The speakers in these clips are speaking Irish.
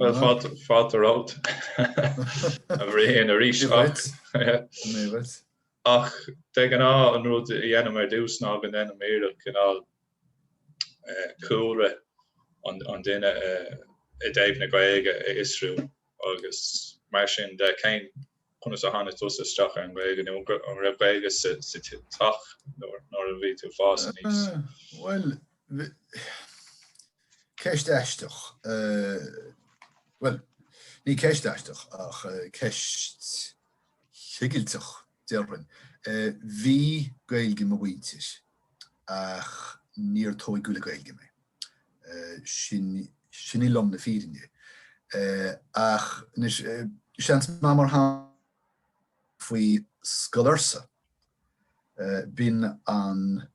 Bhuel, fáilte romhat a Bhriain arís ach de ghnáth an rud a dhéanaim ar dtús ná go ndéanaim iarracht cineál cúlra an duine i dtaobh na Gaeilge a fhiosrú agus mar sin de. Conas a tháinig tusa isteach ar an Ghaeilge nó an raibh Gaeilge sa teach nuair a bhí tú fás aníos? Bhuel, ceist aisteach. Bhuel, ní ceist aisteach ach ceist chigilteach déarfainn. Bhí Gaeilge ag mo mhuintir ach níor tóigeadh le Gaeilge mé. Sin í lom na fírinne. Ach anois, is scéal ann mar chuala tú faoi Scoil Fhursa, b'in an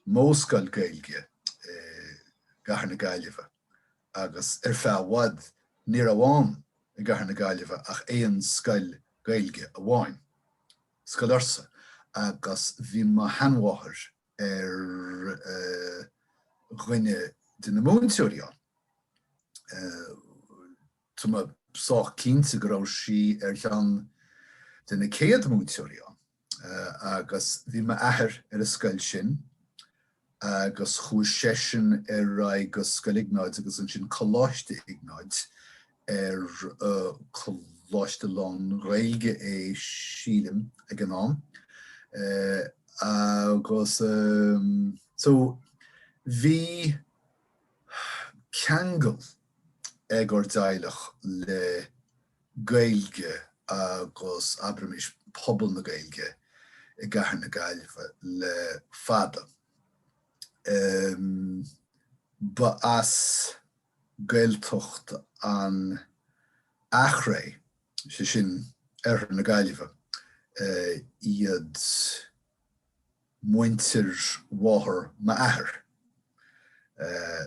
mhodhscoil Gaeilge i gCathair na Gaillimhe agus ar feadh i bhfad ní raibh ann i gCathair na Gaillimhe ach aon scoil Gaeilge amháin, Scoil Fhursa, agus bhí mo sheanmháthair, ar dhuine de na múinteoirí ann. Tá mé sách cinnte go raibh sí ar cheann de na céad múinteoirí ann agus bhí m'athair ar an scoil sin agus chuaigh seisean ar aghaidh go Scoil Iognáid agus ansin Coláiste Iognáid ar coláiste lán-Ghaeilge é sílim ag an am agus so bhí ceangal ag ár dteaghlach le Gaeilge agus abraimis pobal na Gaeilge i gcathair na Gaillimhe le fada. Ba as Gaeltacht an Eachréidh, 'sé sin oirthear na Gaillimhe, iad muintir mháthair m'athair.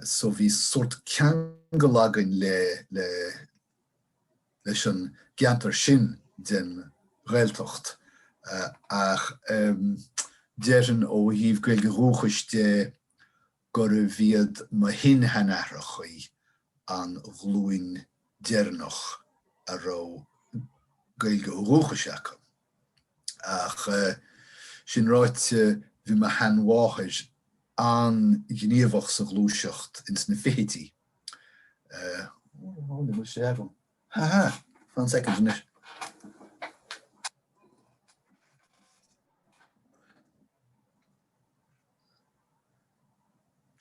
So bhí sórt ceangal againn le leis an gceantar sin den Ghaeltacht ach déarfainn ó thaobh Gaeilge dhúchais de gurbh iad mo shin-seanaithreachaí an ghlúin deireanach a raibh Gaeilge ó dhúchais acu. Ach sin ráite, bhí mo sheanmháthair an-ghníomhach sa ghluaiseacht ins na fichidí. Ó, ní bhfuil sé agam. Ha ha! Fan soicind anois.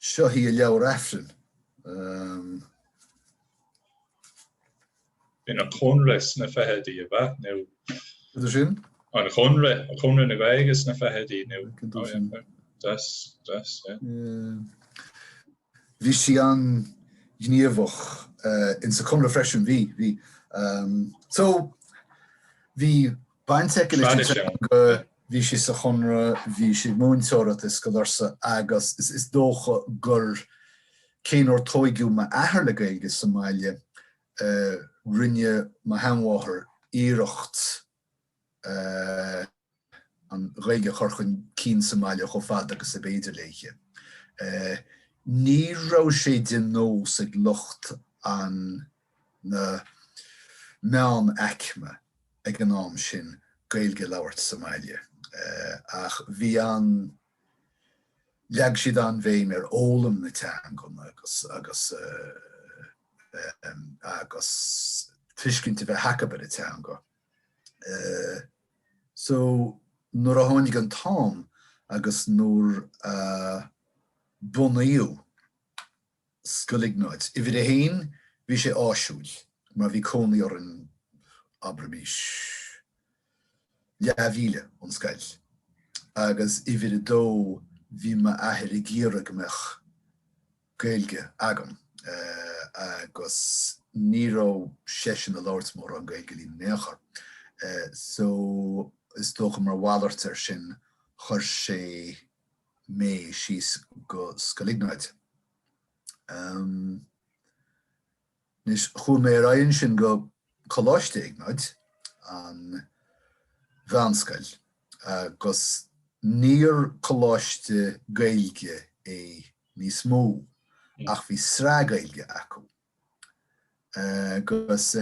Seo hí a leabhar aifrinn. B'in an Conradh sna fichidí, ab ea? Nó. Cad é sin? An Conradh, Conradh na Gaeilge sna fichidí, nó. Cad é sin? Das, das, yeah. Bhí sí an-ghníomhach insa Conradh freisin, bhí, bhí. So, bhí. baint aici leis an teanga. Bhí sí sa Chonradh, bhí sí ag múinteoireacht i Scoil Fhursa agus is dócha gur cé nár tóigeadh m'athair le Gaeilge sa mbaile, rinne mo sheanmháthair iarracht an Ghaeilge a chur chun cinn sa mbaile chomh fada agus ab fhéidir léi. Ní raibh sé de nós ag lucht an. na meánaicme ag an am sin Gaeilge a labhairt sa mbaile ach bhí an leag siad an-bhéim ar fhoghlaim na teangan agus agus agus tuiscint a bheith acu ar an teanga. So nuair a tháinig an t-am agus nuair a bunaíodh. Scoil Iognáid, Uimhir 1, bhí sé áisiúil mar bhí cónaí orainn, abraimis, leathmhíle ón scoil. Agus uimhir 2, bhí m'athair ag iarraidh go mbeadh Gaeilge agam agus ní raibh seisean ag labhairt mórán Gaeilge linn in aon chor. So, is dócha mar mhalairt air sin, chuir sé. mé síos go Scoil Iognáid. Anois chuaigh mé ar aghaidh ansin go Coláiste Iognáid, an mheánscoil, agus níor coláiste Gaeilge é níos mó ach bhí sraith Gaeilge acu. Agus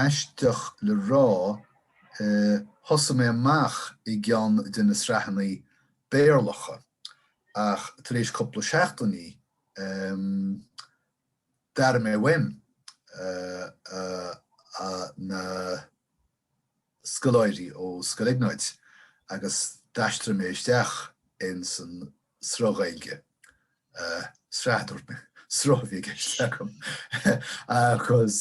aisteach le rá, thosaigh mé amach i gceann de na sraitheanna Béarlacha ach tar éis cúpla seachtaine, d'airigh mé uaim na scoláirí ó Scoil Iognáid agus d'aistrigh mé isteach in san sruth Gaeilge, sraith dúirt mé, sruth a bhí i gceist agam, agus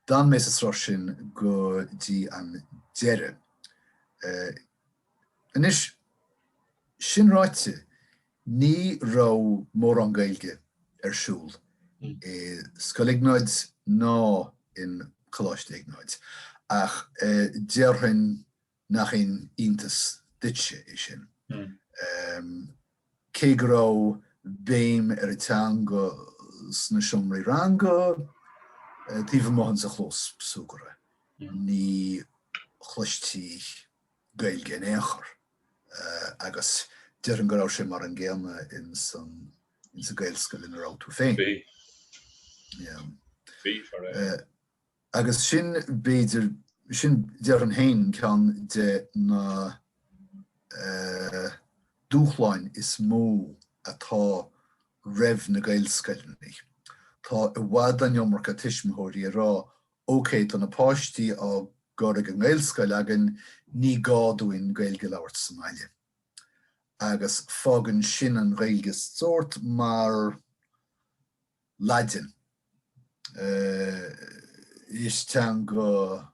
d'fhan mé sa sruth sin go dtí an deireadh. Anois, sin ráite, ní raibh mórán Gaeilge ar siúl i Scoil Iognáid nó in Coláiste Iognáid, ach déarfainn, Nach aon iontas duitse é sin. Cé go raibh béim ar an teanga sna seomraí ranga taobh amuigh ansin sa chlós súgartha, ní chloistí Gaeilge in aon chor agus déarfainn go raibh sé mar an gcéanna ins an Gaelscoil ina raibh tú féin. Bhí, bhí. Agus sin, b'fhéidir, sin, déarfainn féin, ceann de na dúshláin is mó atá roimh na Gaelscoileanna. Tá i bhfad an iomarca tuismitheoirí ag rá, OK, tá na páistí á gcur ag an nGaelscoil againn, ní gá dúinn Gaeilge a labhairt sa mbaile. Agus fágann sin an Ghaeilge sórt mar, Laidin. Is teanga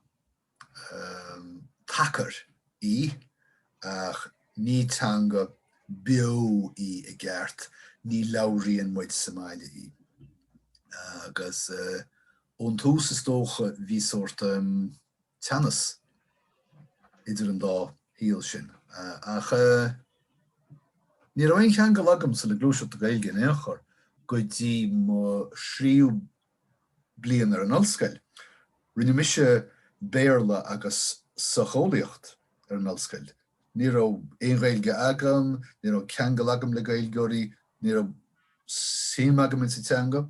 tacair í ach ní teanga beo í i gceart, ní labhraíonn muid sa mbaile í. Agus ón tús is dócha bhí sórt. teannas idir an dá shaol sin. Ach ní raibh aon cheangal agam sa le gluaiseacht na Gaeilge in aon chor go dtí mo thríú bliain ar an ollscoil. Rinne mise Béarla agus Socheolaíocht ar an ollscoil. Ní raibh aon Ghaeilge agam, ní raibh ceangal agam le Gaeilgeoirí, ní raibh suim agam insa teanga.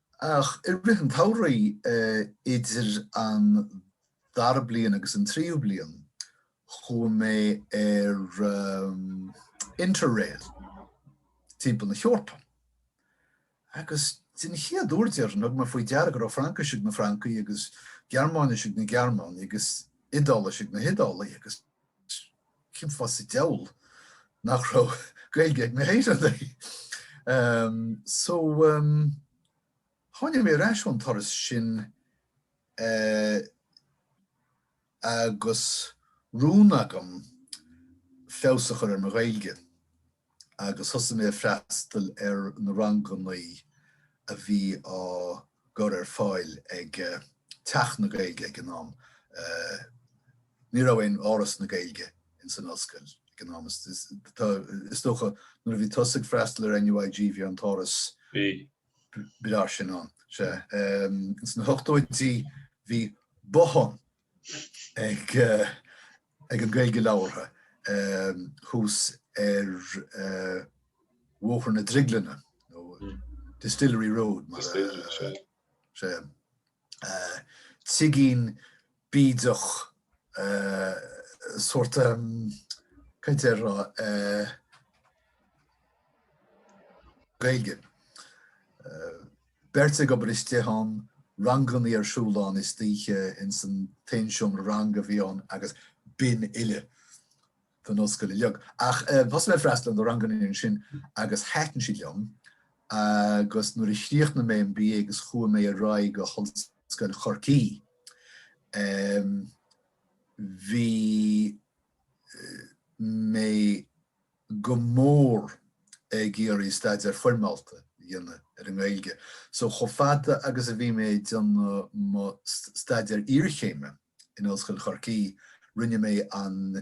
Ach i rith an tsamhraidh, idir an dara bliain agus an tríú bliain, chuaigh mé ar Interrail timpeall na hEorpa. Agus den chéad uair, déarfainn, thug mé faoi deara go raibh Fraincis ag na Francaigh agus Gearmáinis ag na Gearmánaigh agus Iodáilis ag na hIodálaigh agus. cén fáth sa diabhal nach raibh Gaeilge ag na hÉireannaigh? So, tháinig mé ar ais ón turas sin agus rún agam feabhas a chur ar mo Ghaeilge. agus thosaigh mé ag freastal ar na ranganna a bhí á gcur ar fáil ag Teach na Gaeilge ag an am. Ní raibh aon Áras na Gaeilge ins an Ollscoil ag an am is dócha. Nuair a bhí tusa ag freastal ar NUIG bhí an tÁras breá sin ann. Sea, ins na hochtóidí bhí bothán ag an Gaeilge labhartha thuas ar Bhóthar na Drioglainne nó Distillery Road is é. Tigín bídeach sórt cainteoir Gaeilge. Beirt ag obair istigh ann, rangannaí ar siúl ann istoíche, ins an t-aon seomra ranga a bhí ann agus b'in uile don ollscoil uilig. Ach thosaigh mé ag freastal ar na rangannaí ansin agus thaitin siad liom agus nuair a chríochnaigh mé an BA agus chuaigh mé ar aghaidh go hOllscoil Chorcaí, bhí mé. go mór ag iarraidh staidéar foirmeálta a dhéanamh ar an nGaeilge. So chomh fada agus a bhí mé ag déanamh mo staidéar iarchéime in Ollscoil Chorcaí, rinne mé an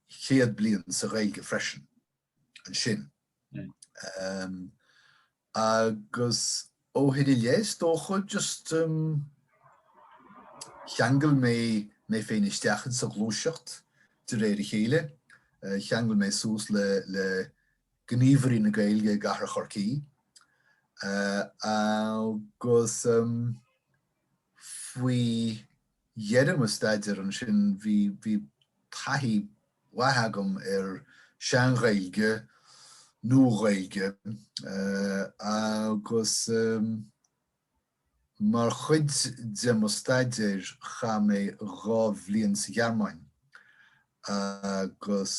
chéad bliain sa Ghaeilge freisin ansin. Agus ó shin i leith is dócha just em cheangail mé mé féin isteach in sa ghluaiseacht de réir a chéile. Cheangail mé suas le le gníomhairí na Gaeilge i gcathair Chorcaí agus em. Faoi dheireadh mo staidéar ansin bhí taithí mhaith agam ar Shean-Ghaeilge, Nua-Ghaeilge agus mar chuid de mo staidéir chaith mé dhá bhliain sa Ghearmáin agus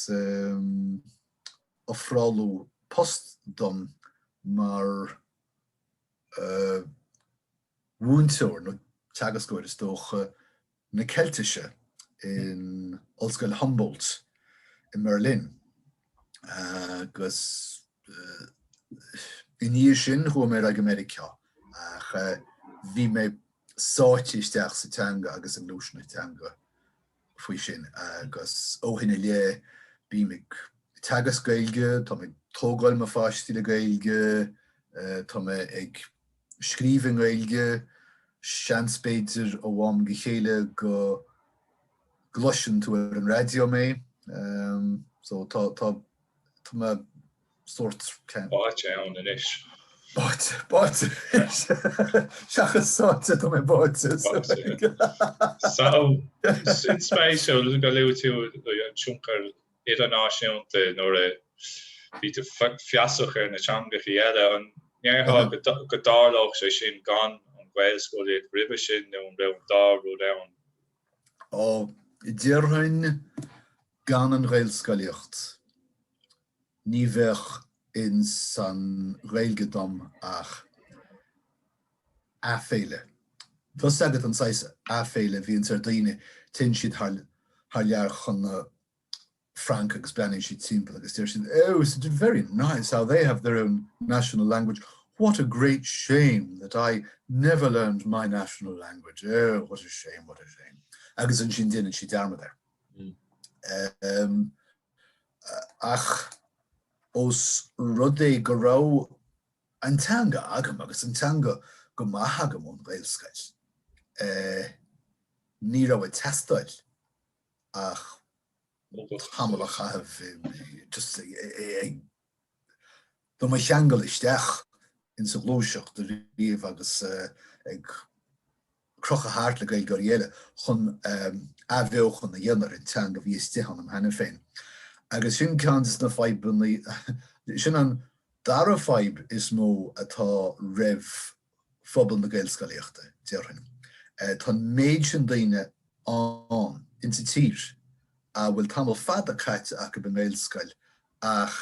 ofráladh post dom mar múinteoir nó teagascóir, is dócha, na Ceiltise in Ollscoil Humboldt i mBerlin agus i ndiaidh sin chuaigh mé ar aghaidh go Meiriceá ach bhí mé sáite isteach sa teanga agus i ngluaiseanna teanga faoi sin agus ó shin i leith bí mé ag teagasc Gaeilge, tá mé ag tógáil mo pháistí le Gaeilge, tá mé ag scríobh i nGaeilge, seans b'fhéidir ó am go chéile go gcloiseann tú ar an raidió mé, so tá mé. sórt báite ann anois. Báite, báite. Seachas sáite, tá mé báite. Báite. Sin spéisiúil gur luaigh tú an tionchar idirnáisiúnta nuair a bhí tú feasach ar na teangacha eile. An ndéarfá go dtarlódh sé sin gan an ghaelscolaíocht roimhe sin nó an raibh an dá rud ann? Ó, déarfainn gan an ghaelscolaíocht. ní bheadh in san Ghaeilge dom ach aiféala. Tá a fhios agat an saghas aiféala a bhíonn ar daoine, téann siad thar lear chun na Fraince agus breathnaíonn siad timpeall agus deir siad Oh, it's very nice how they have their own national language, what a great shame that I never learned my national language, oh, what a shame, what a shame. Agus ansin déanann siad dearmad air. Ach os rud é go raibh an teanga agam, agus an teanga go maith agam ón Ghaelscoil, ní raibh ag teastáil ach tamall a chaitheamh just ag. do m'athcheangal isteach insa ghluaiseacht arís agus ag crochadh thart le Gaeilgeoirí eile chun athbheochan a dhéanamh ar an teanga a bhí istigh ionam cheana féin. Agus sin ceann de na fadhbanna, sin an dara fadhb is mó atá roimh phobal na Gaelscolaíochta, déarfainn. Tá an méid sin daoine ann in sa tír a bhfuil tamall fada caite acu i nGaelscoil ach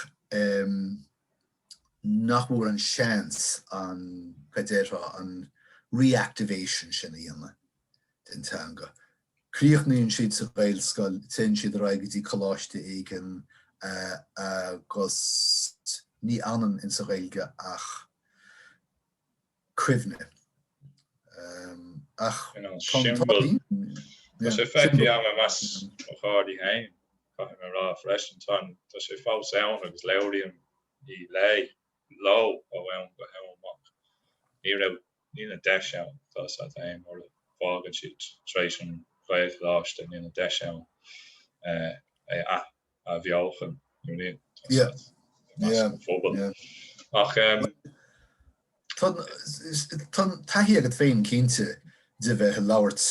nach bhfuair an seans an, cad déarfá, an reactivation sin a dhéanamh den teanga. Críochnaíonn siad sa Ghaelscoil, téann siad ar aghaidh go dtí coláiste éigin agus ní fhanann insa Ghaeilge ach cuimhne. Ach tá an t-ádh linn. Tá sé feicthe agam i measc mo chairde féin, caithfidh mé a rá. Freisin, tá sé fós ann agus labhraím í le. leo ó am go ham ach. Ní raibh, níl an deis ann, tá a fhios agat, mura bhfágann siad tar éis an Ghaelcholáiste níl an deis ann é a athbheochan nó níl, tá a fhios agat, i measc an phobail ach em. tá taithí agat féin cinnte de bheith a' labhairt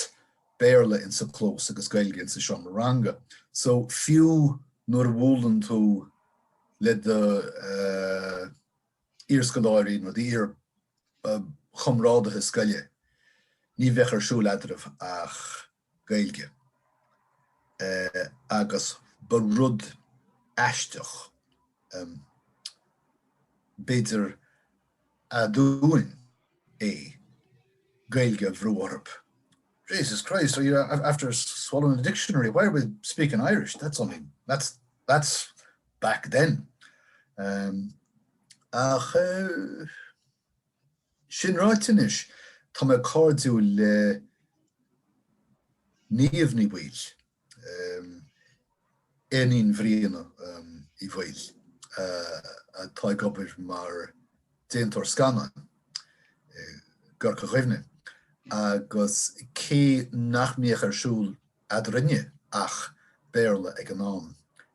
Béarla insa chlós agus Gaeilge insa seomra ranga so fiú nuair a bhualann tú, le do iar-scoláirí nó d'iar-chomrádaithe scoile ní bheadh ar siúl eadraibh ach Gaeilge agus ba rud aisteach b'fhéidir aduain é Gaeilge a bhrú orthu. Jesus Christ, are you after swallowing the dictionary? Why are we speaking Irish? That's, oh man, that's, that's back then. Ach é sin ráite anois, tá mé cairdiúil le Niamh Ní Bhaoill. Iníon Bhriain Uí Bhaoill, atá ag obair mar déantóir scannán i gCorca Dhuibhne, agus cé nach mbíodh ar siúl eadrainne ach Béarla ag an am,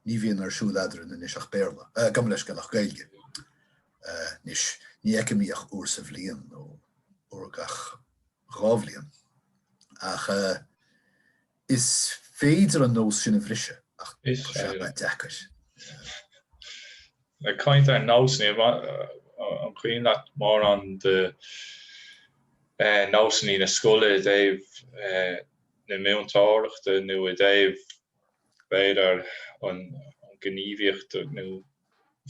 ní bhíonn ar siúl eadrainn anois ach Béarla. Gabh mo leithscéal, ach Gaeilge anois. Ní fheicim í ach uair sa bhliain nó uair gach dhá bhliain. Ach. Is féidir an nós sin a bhriseadh ach tá sé an-deacair. Ag caint ar nósanna, an cuimhin leat mórán de nósanna na scoile i dtaobh na múinteoireachta nó i dtaobh, b'fhéidir, an ghníomhaíocht nó.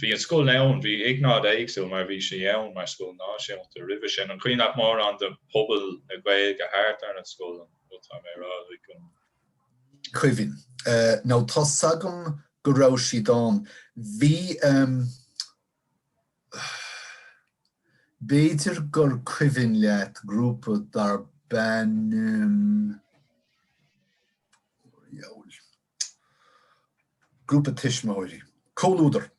Bhí an scoil ann, bhí Iognáid éagsúil mar bhí sé ann mar scoil náisiúnta roimhe sin. An cuimhin leat mórán de pobal na Gaeilge thart ar an scoil, an rud atá mé a rá, like. Ní cuimhin. Nó tá 's agam go raibh siad ann. Bhí ehm, b'fhéidir gur cuimhin leat grúpa darb ainm, oh, dheabhail. Grúpa tuismitheoirí. Comhluadar.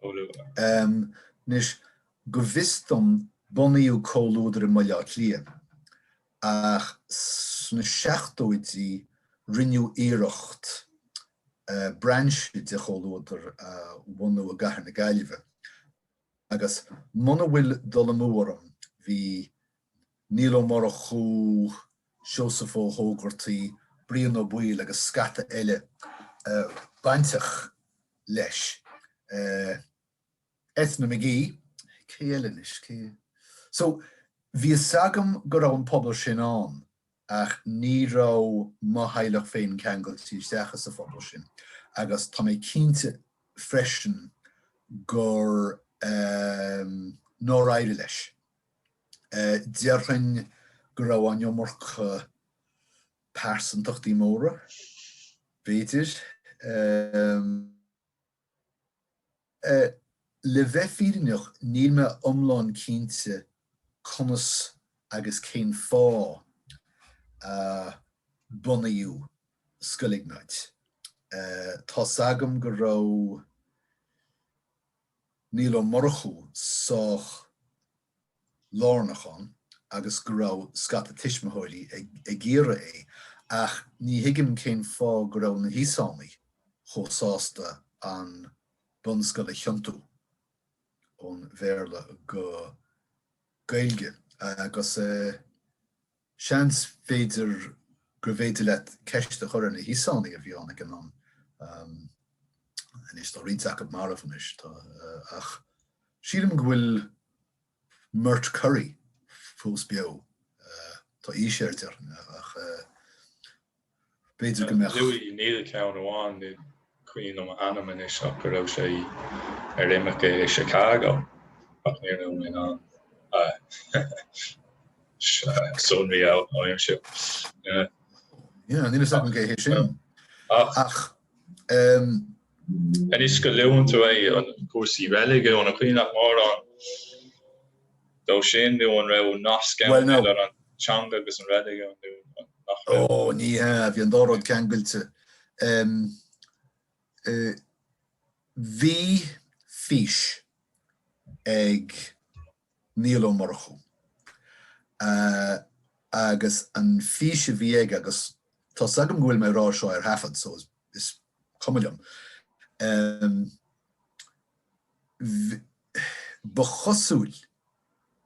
Comhluadar. Anois, go bhfios dom bunaíodh Comhluadar i mBaile Átha Cliath ach sna seachtóidí rinneadh iarracht brainse de Chomhluadar a bhunú i gcathair na Gaillimhe agus muna bhfuil dul amú orm bhí Niall Ó Murchú, Seosamh Ó hÓgartaigh, Brian Ó Baoill agus scata eile bainteach leis. Eithne McGee, Cé eile anois, cé? So, bhí fhios agam go raibh an pobal sin ann ach ní raibh mo theaghlach féin ceangailte isteach sa phobal sin agus tá mé cinnte freisin gur nár éirigh leis. Déarfainn go raibh an iomarca pearsantachtaí móra, b'fhéidir. Le bheith fírinneach níl mé iomlán cinnte conas agus cén fáth a bunaíodh Scoil Iognáid. Tá's agam go raibh Niall Ó Murchú sách lárnach ann agus go raibh scata tuismitheoirí ag iarraidh é ach ní thuigim cén fáth go raibh na hÍosánaigh chomh sásta an bunscoil a thiontú ón Bhéarla go Gaeilge agus. Seans b'fhéidir gurbh fhéidir leat ceist a chur ar na hÍosánaigh a bhí ann ag an am anois tá roinnt acu marbh anois tá ach sílim go bhfuil Murt Curry fós beo tá aois air déarfainn ach b'fhéidir go mbeadh. Louis, níl ceann amháin ní cuimhin liom a ainm anois ach go raibh sé ar imirce i Chicago ach ní raibh mé in ann a sonraí a aimsiú. Yeah, níl fhios agam cé hé sin ach. Anois go luann tú é, an cúrsaí reiligiúin, an cuimhin leat mórán? de sin nó an raibh nasc ann idir an teanga agus an reiligiún nó nach raibh? Ó, ní hea, bhí an dá rud ceangailte. Bhí fís ag Niall Ó Murchú agus an fís a bhí aige, agus tá's agam go bhfuil mé ag rá seo ar thaifead so is cuma liom, Ba chosúil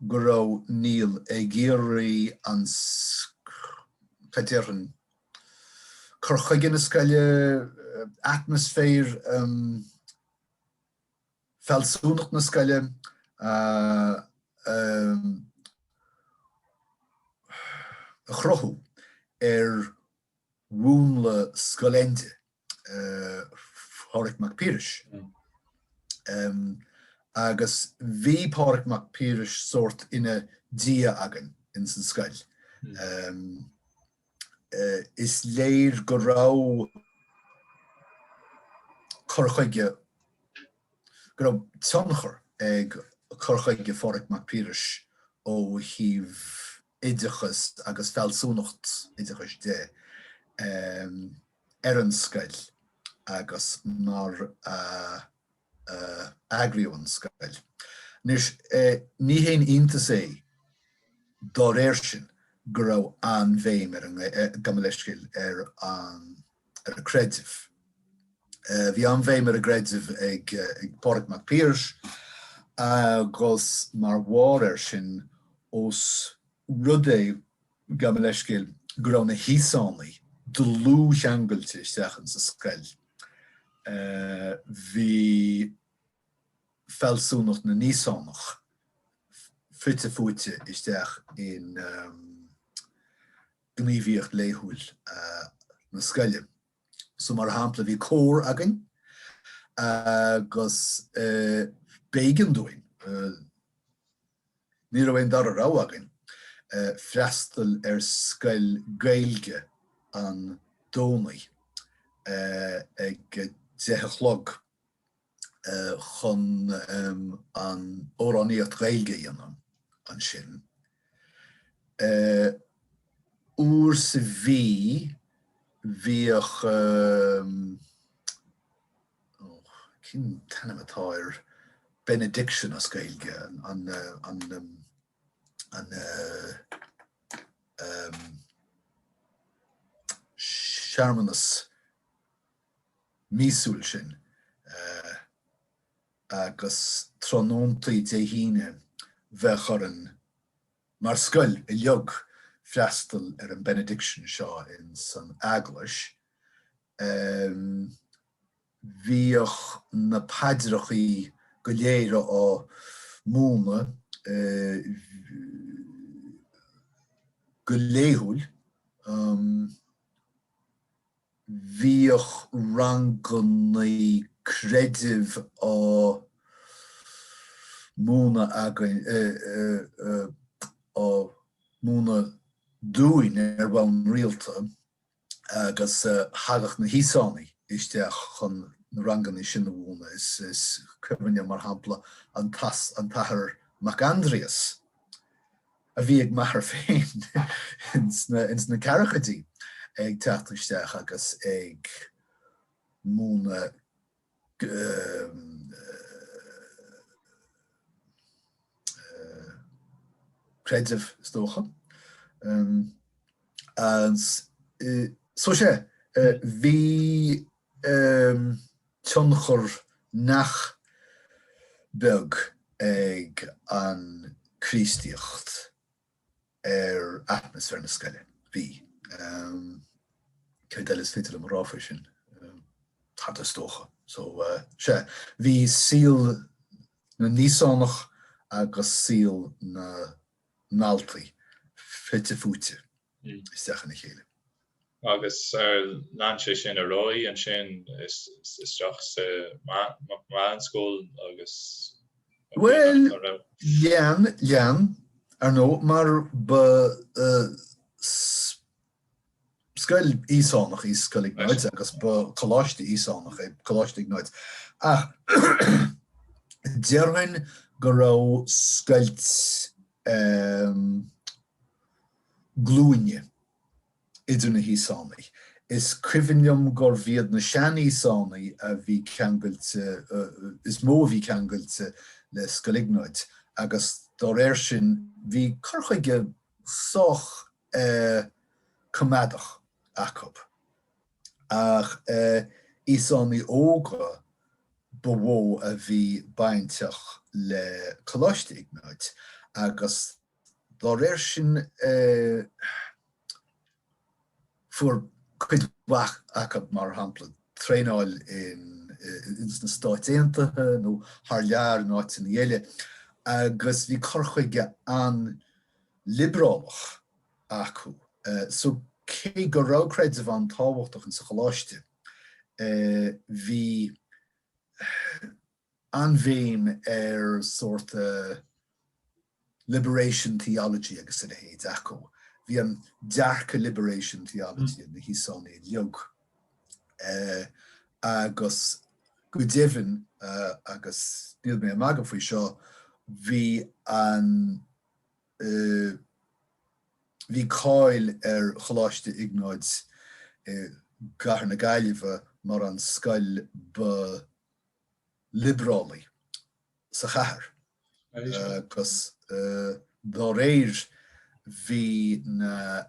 go raibh Niall ag iarraidh an, cad déarfainn, cur chuige na scoile, atmaisféar, fealsúnacht na scoile a chruthú ar mhúnla Scoil Éinde, Pháraic Mac Piarais, agus bhí Páraic Mac Piarais sórt ina Dhia againn ins an scoil. Is léir go raibh cur chuige, go raibh tionchar ag cur chuige Pháraic Mac Piarais ó thaobh. oideachas agus fealsúnacht oideachais de ar an scoil agus mar a eagraíodh an scoil. Anois, ní haon iontas é dá réir sin go raibh an-bhéim ar an. Gabh mo leithscéal, ar an. Creideamh. Bhí an-bhéim ar an gcreideamh ag Pádraig Mac Piarais agus mar bharr air sin, ós rud é, gabh mo leithscéal, go raibh na hÍosánaigh dlúthcheangailte isteach ins an scoil, bhí fealsúnacht na nÍosánach fite fuaite isteach in gníomhaíocht laethúil na scoile. So mar shampla bhí cór againn agus b'éigean dúinn, ní raibh aon dara rogha againn, freastal ar scoil Ghaeilge an Domhnaigh ag deich a chlog. chun an amhránaíocht Gaeilge a dhéanamh ansin uair sa mhí bhíodh cén t-ainm atá ar benediction as Gaeilge an an an searmanas míosúil sin agus tráthnóntaí Dé hAoine bheadh orainn mar scoil uilig freastal ar an benediction seo ins an eaglais. Bhíodh na paidreachaí go léir á múineadh go laethúil. Bhíodh rangannaí creidimh á múineadh againn, á múineadh dúinn ar bhonn rialta agus thagadh na hÍosánaigh isteach chun na rangannaí sin a mhúineadh. Is cuimhin liom, mar shampla, an tAthair Mac Aindrias. a bhí ag m'athair féin ins na ceathrachaidí ag teacht isteach agus ag múineadh creideamh is dócha. So sea, bhí. tionchar nach beag ag an Chríostaíocht ar atmaisféar na scoile. Bhí. Céard eile is féidir liom a rá faoi sin? Tada is dócha. So, sea, bhí saol na nÍosánach agus saol na ndaltaí fite fuaite. isteach ina chéile. Agus lean sé sin ar aghaidh ansin isteach sa meánscoil agus. Bhuel, lean, lean, ar ndóigh, mar ba scoil Íosánach í Scoil Iognáid agus ba choláiste Íosánach é Coláiste Iognáid ach déarfainn go raibh scoilt, glúine idir na hÍosánaigh. Is cuimhin liom gurbh iad na sean-Íosánaigh a bhí ceangailte, is mó a bhí ceangailte le Scoil Iognáid agus dá réir sin bhí cur chuige sách coimeádach acub. Ach Íosánaigh óga ba mhó a bhí bainteach le Coláiste Iognáid agus Dá réir sin fuair cuid mhaith acub, mar shampla, traenáil sna Stáit Aontaithe nó thar lear in áiteanna eile agus bhí cur chuige an-liobrálach acu. So cé go raibh creideamh an-tábhachtach insa choláiste bhí. an-bhéim ar sórt liberation theology agus a leithéid acu. Bhí an dearcadh liberation theology ag na hÍosánaigh uilig agus go deimhin, agus níl mé ag magadh faoi seo, bhí an, bhí cáil ar Choláiste Iognáid i gcathair na Gaillimhe mar an scoil ba, liobrálaí sa chathair agus dá réir bhí na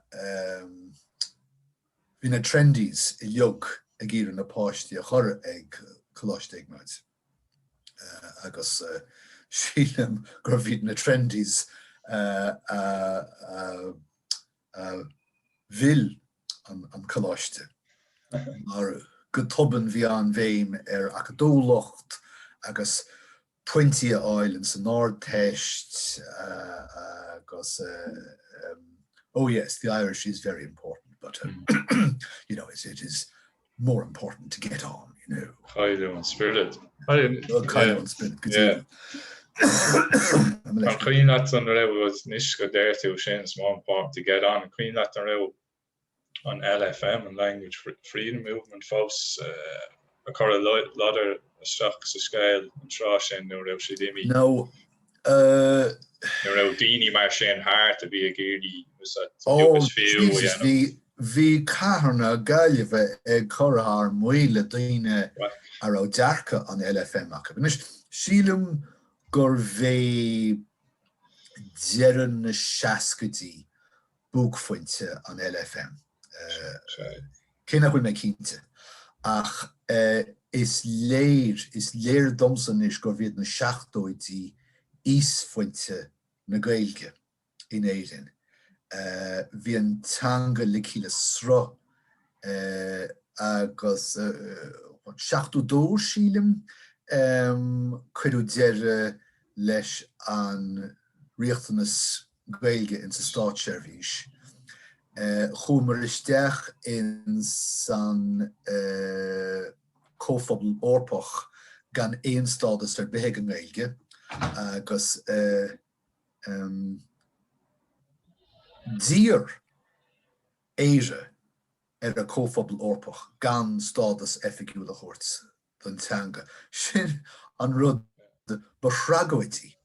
bhí na trendies uilig ag iarraidh na páistí a chur chuig Coláiste Iognáid agus sílim gurbh iad na trendies a mhill an coláiste. Mar go tobann bhí an-bhéim ar acadúlacht agus pointí a fháil ins an Ardteist agus oh yes the Irish is very important but you know it is more important to get on, you know. Cailleadh an spiorad. Cailleadh an spiorad. An cuimhin leat an raibh anois go ndeir tú sin it's more important to get on an cuimhin leat an raibh an LFM, an Language Freedom Movement, fós ag cur a ladair isteach sa scéal an tráth sin nó raibh siad imithe? Nó an raibh daoine mar sin thart a bhí ag iarraidh úsáid agus fiú a dhéanamh? Oh Jesus bhí, bhí cathair na Gaillimhe ag cur thar maoil le daoine a raibh dearcadh an LFM acu. Anois sílim gurbh é deireadh na seascaidí buaicphointe an LFM. Cé nach bhfuil mé cinnte, ach is léir, is léir domsa anois gurbh iad na seachtóidí íosphointe na Gaeilge in Éirinn. Bhí an teanga ligthe le sruth agus seachtó dó, sílim, cuireadh deireadh leis an riachtanas Gaeilge in sa Státseirbhís. Chuamar isteach in san Comhphobal Eorpach gan aon stádas ar bith ag an nGaeilge agus d'iarr Éire ar an gComhphobal Eorpach gan stádas oifigiúil a thabhairt don teanga. Sin an rud ba thragóidí.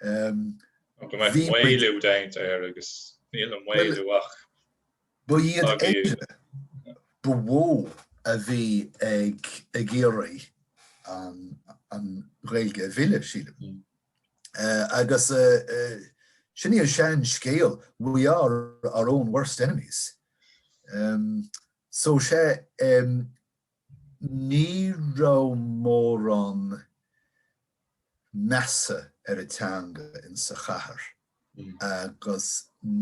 Go mbeadh maolú déanta air agus níl an maolú ach ag éirí. Ba í Éire ba mhó a bhí ag iarraidh an Ghaeilge a mhilleadh, sílim. Agus sin í an sean scéal, we are our own worst enemies. So, sea, Ní raibh mórán measa ar an teanga in sa chathair agus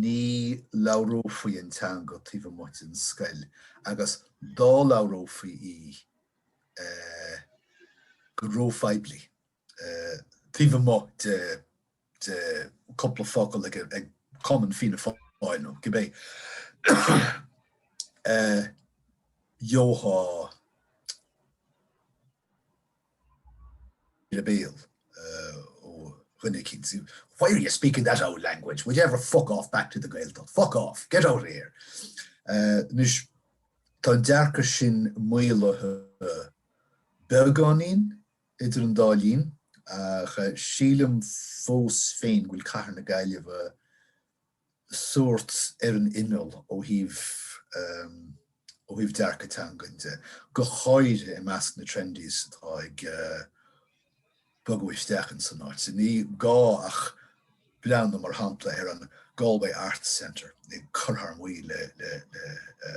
ní labhrófaí an teanga taobh amuigh den scoil agus dá labhrófaí í go ró-phoiblí. taobh amuigh de cúpla focal ag cumann Fianna Fáil nó cibé gheofá ar an mbéal ó dhuine eicínt, why are you speaking that old language, would you ever fuck off back to the Gaeltacht, fuck off, get out of here. Anois, tá an dearcadh sin maolaithe beagáinín. Idir an dá linn, ach sílim fós féin go bhfuil Cathair na Gaillimhe sórt ar an imeall ó thaobh ó thaobh dearcadh teangan de, go háirithe i measc na trendies atá ag bogadh isteach in san áit. Ní gá ach breathnú mar shampla ar an Galway Arts Centre ag cur thar maoil le le le.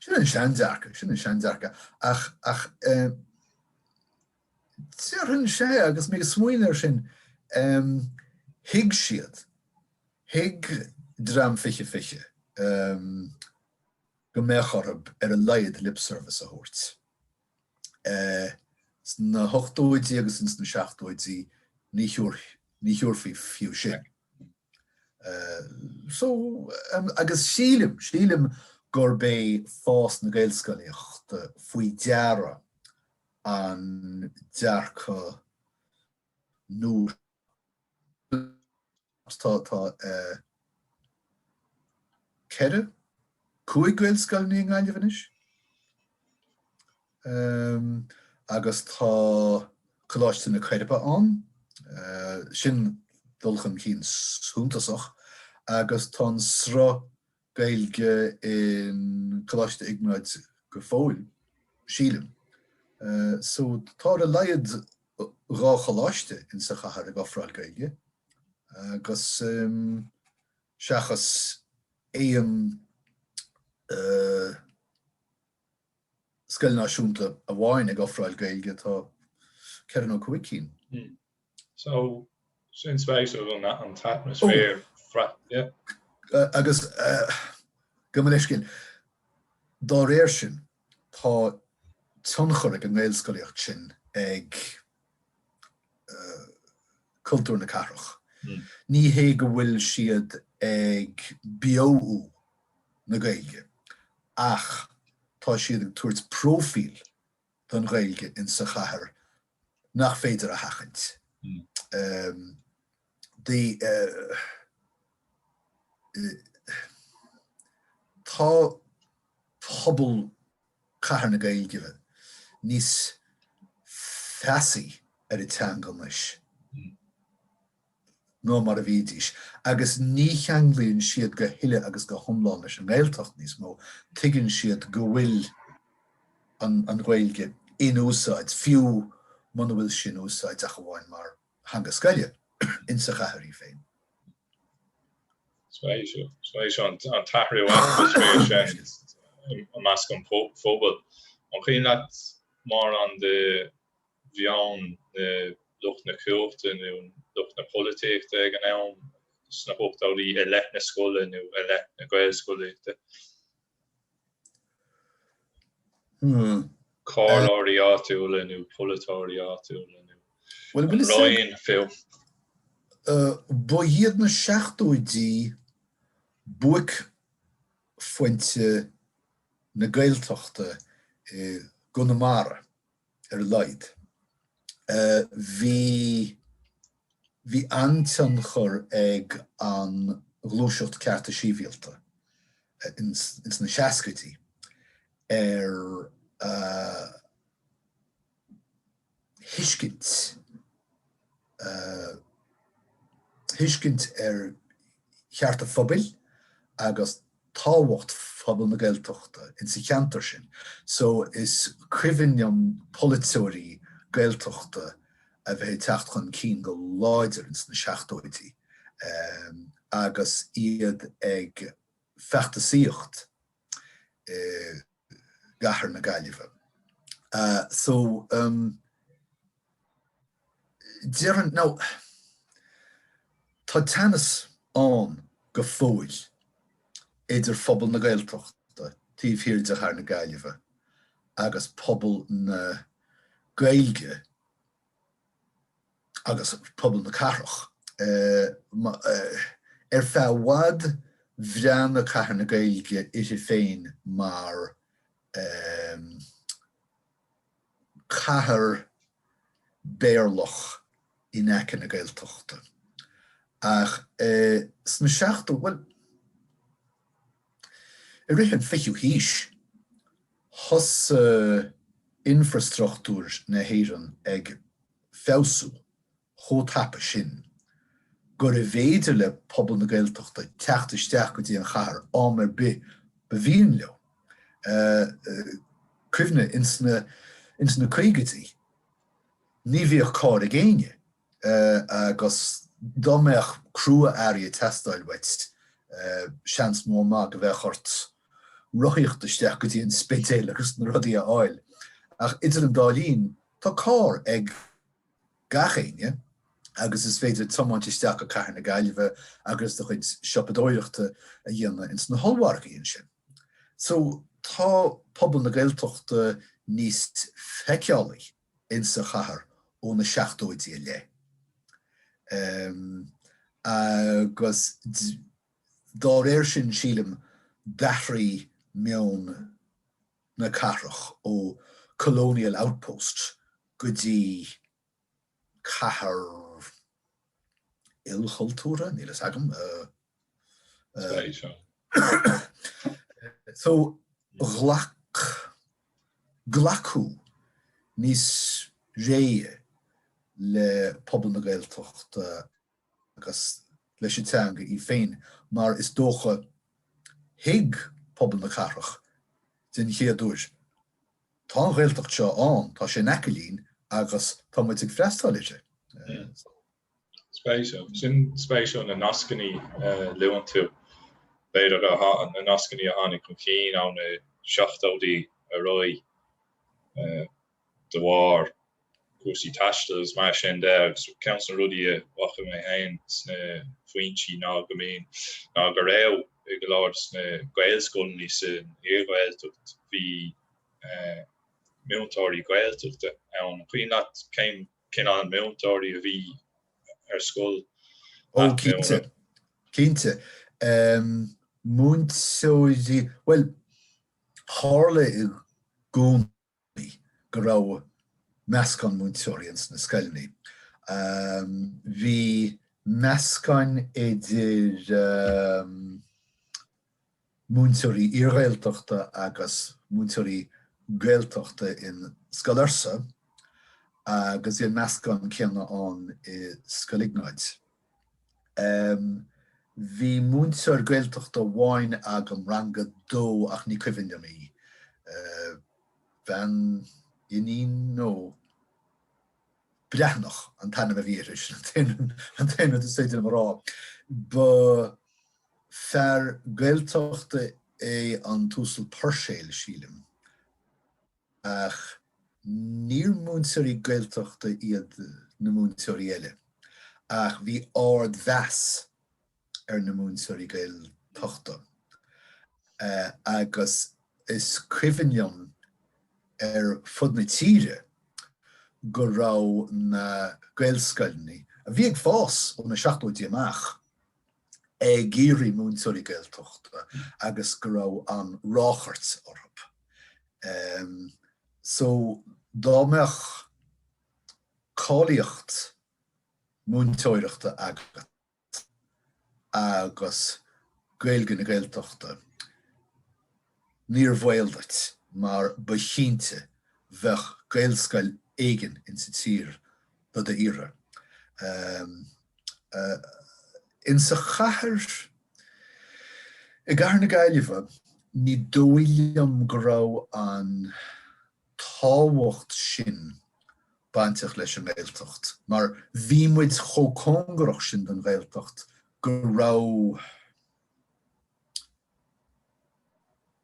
Sin an seandearcadh, sin an seandearcadh. Ach, ach eh, déarfainn sé agus mé ag smaoineamh air sin, em, thuig siad, thuig dream fiche fiche, em, go mbeadh orthu ar a laghad lip service a thabhairt. Eh, sna hochtóidí agus ins na seachtóidí ní thabhar-, ní thabharfaí fiú sin. so agus sílim, sílim gurb é fás na Gaelscolaíochta faoi deara an dearcadh nua. Tá, tá ceithre, cúig Gaelscoileannaí i nGaillimh anois. Agus tá Coláiste na Coiribe ann. Sin dul chun cinn suntasach agus tá an sruth Gaeilge in Coláiste Iognáid go fóill, sílim. So tá ar a laghad dhá choláiste in sa chathair ag ofráil Gaeilge agus seachas aon scoil náisiúnta amháin ag ofráil Gaeilge, tá ceithre nó cúig cinn. Hmm. So, sin spéisiúil, an t-atmaisféar frith, yeah. Agus, gabh mo leithscéal, dá réir sin, tá tionchar ag an nGaelscolaíocht sin ag. cultúr na cathrach. Ní hé go bhfuil siad ag beoú na Gaeilge ach tá siad ag tabhairt próifíl don Ghaeilge in sa chathair nach féidir a sheachaint. Tá pobal Cathair na Gaillimhe níos feasaí ar an teanga anois ná mar a bhídís agus ní cheanglaíonn siad í go huile agus go hiomlán leis an nGaeltacht níos mó. Tuigeann siad go bhfuil an Ghaeilge in úsáid, fiú muna bhfuil sí in úsáid ach amháin mar theanga scoile in sa chathair féin. Spéisiúil an t-atmaisféar sin i measc an phobail. An cuimhin leat mórán de mheon lucht na cumhachta nó lucht na polaitíochta ag an am sna hochtóidí i leith na scoile nó i leith na Gaelscolaíochta? comhairleoirí áitiúla nó polaiteoirí áitiúla nó an Roinn fiú. Ba iad na seachtóidí buaicphointe na Gaeltachta i gConamara. ar a laghad. Bhí an-tionchar ag an ghluaiseacht cearta síbhialta ins na seascaidí ar thuiscint. thuiscint ar chearta phobail agus tábhacht phobal na Gaeltachta insa cheantar sin. So is cuimhin liom polaiteoirí Gaeltachta a bheith ag teacht chun cinn go láidir ins na seachtóidí agus iad ag feachtasaíocht i gcathair na Gaillimhe. So déarfainn now tá teannas ann go fóill idir phobal na Gaeltachta taobh thiar de chathair na Gaillimhe agus pobal na Gaeilge agus pobal na cathrach. Ar feadh i bhfad bhreathnaigh Cathair na Gaeilge uirthi féin mar chathair Béarlach in aice na Gaeltachta ach sna seacht, bhuel, i rith an fichiú haois, Thosaigh infreastruchtúr na hÉireann ag feabhsú chomh tapa sin gurbh fhéidir le pobal na Gaeltachta teacht isteach go dtí an chathair am ar bith ba mhian leo. Cuimhnigh, ins na caogaidí, ní bhíodh carr ag éinne. agus dá mbeadh crua-earraí ag teastáil uait, seans mór maith go mbeadh ort rothaíocht isteach go dtí an Spidéal agus na rudaí a fháil. Ach idir an dá linn, tá carr ag gach éinne agus is féidir tiomáint isteach go cathair na Gaillimhe agus do chuid siopadóireachta a dhéanamh ins na hollmhargaí ansin. So, tá pobal na Gaeltachta níos feiceálaí. in sa chathair ó na seachtóidí i leith agus dá réir sin sílim d'athraigh meon na cathrach ó colonial outpost go dtí cathair ilchultúrtha, níl a fhios agam. so ghlac glacadh níos réidhe le pobal na Gaeltachta agus leis an teanga í féin mar is dócha thuig pobal na cathrach den chéad uair tá an Ghaeltacht seo ann, tá sé in aice linn agus tá muid ag freastal uirthi. Spéisiúil. Sin spéisiúil na nascannaí a luann tú. B'fhéidir na nascannaí a tháinig chun cinn ó na seachtóidí ar aghaidh de bharr cúrsaí taistil agus mar sin de agus ceann de na rudaí a bhfaca mé féin sna foinsí ná go mbíonn, ná go raibh i go leor de sna Gaelscoileanna sa iarGhaeltacht bhí múinteoirí Gaeltachta ann. An cuimhin leat cén. cineál múinteoirí a bhí ar scoil leat nó? Ó cinnte, cinnte. Múinteoirí, bhuel, tharla i gcónaí go raibh meascán múinteoirí ins na scoileanna. Bhí meascáin idir múinteoirí iarGhaeltachta agus múinteoirí Gaeltachta in Scoil Fhursa agus bhí an meascán céanna ann i Scoil Iognáid. Bhí múinteoir Gaeltachta amháin agam, rang a dó, ach ní cuimhin liom í. Bean, Iníon nó. Breathnach an t-ainm a bhí uirthi, sin an t-aon rud is féidir liom a rá. Ba fear Gaeltachta é an tUasal Puirséil, sílim, ach níor múinteoirí Gaeltachta iad na múinteoirí eile, ach bhí ard-mheas ar na múinteoirí Gaeltachta agus is cuimhin liom ar fud na tíre go raibh na Gaelscoileanna, a bhí ag fás ó na seachtóidí amach, ag iarraidh múinteoirí Gaeltachta agus go raibh an-ráchairt orthu. So dá mbeadh cáilíocht múinteoireachta agat, Gaeltacht agus Gaeilge na Gaeltachta, níor bhaol duit mar ba chinnte bheadh Gaelscoil éigin in sa tír do d'iarraidh. In sa chathair, i gcathair na Gaillimhe, ní dóigh liom go raibh an tábhacht sin bainteach leis an nGaeltacht mar bhí muid chomh cóngarach sin don Ghaeltacht go raibh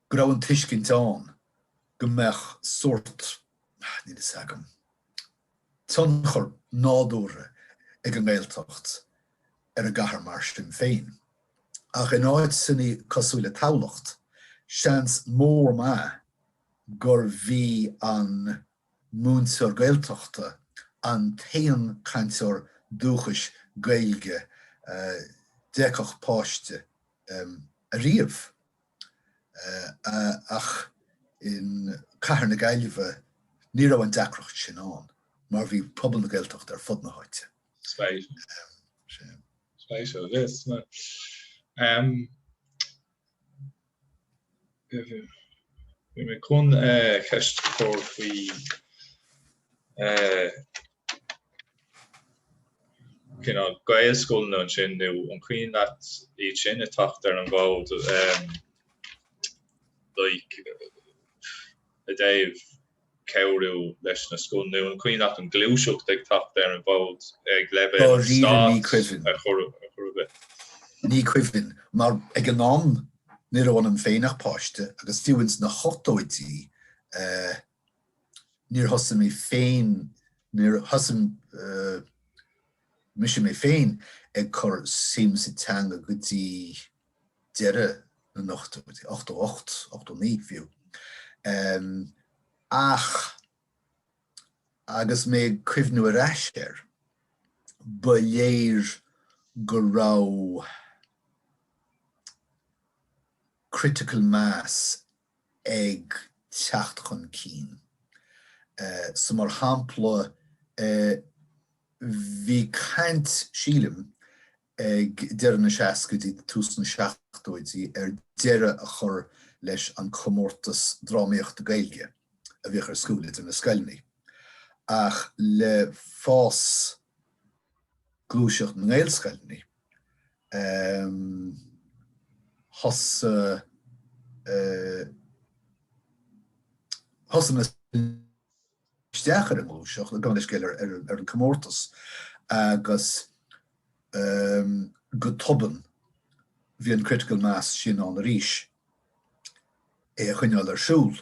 go raibh an tuiscint ann go mbeadh sórt, níl fhios agam, tionchar nádúrtha ag an nGaeltacht ar an gcathair mar sin féin. Ach in áiteanna cosúil le Tamhlacht, seans mór maith gurbh í an múinteoir Gaeltachta an t-aon cainteoir dúchais Gaeilge a d'fheicfeadh páiste ariamh ach in cathair na Gaillimhe ní raibh an deacracht sin ann mar bhí pobal na Gaeltachta ar fud na háite. Spéisiúil. Spéisiúil. Bhí mé chun ceist a chur faoi cineál Gaelscoileanna ansin nó an cuimhin leat iad sin ag teacht ar an bhfód, like i dtaobh cabhrú leis na scoileanna nó an cuimhin leat an ghluaiseacht ag teacht ar an bhfód ag leibhéal an stáit a chuireadh i. Ní cuimhin, mar ag an am ní raibh ionam féin ach páiste agus fiú ins na hochtóidí níor thosaigh mé féin, níor thosaigh mise mé féin ag cur suim sa teanga go dtí, deireadh na n-ochtóidí, ochtó ocht, ochtó naoi fiú. Ach agus mé ag cuimhniú ar ais air, ba léir go raibh critical mass ag teacht chun cinn. So mar shampla, bhí caint, sílim, ag deireadh na seascaidí, tús na seachtóidí ar deireadh a chur leis an comórtas drámaíochta Gaeilge a bhíodh ar siúl idir na scoileanna. Ach le fás gluaiseacht na nGaelscoileanna thosaigh na scoileanna. isteach ar an ngluaiseacht, ag dul le chéile ar an comórtas agus go tobann bhí an critical mass sin ann arís é a choinneáil ar siúl.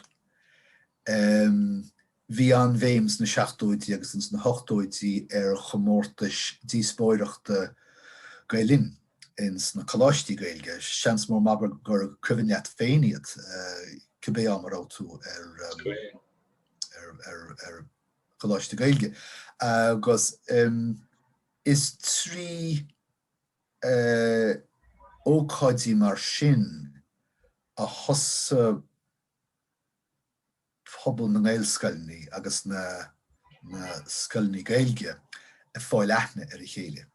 Bhí an-bhéim sna seachtóidí agus ins na hochtóidí ar chomórtais díospóireachta Gael Linn ins na coláistí Gaeilge. Seans mór a Mháire gur cuimhin leat féin iad, cibé am a raibh tú ar. ar choláiste Gaeilge agus is trí ócáidí mar sin a thosaigh pobal na nGaelscoileanna agus na scoileanna Gaeilge ag fáil aithne ar a chéile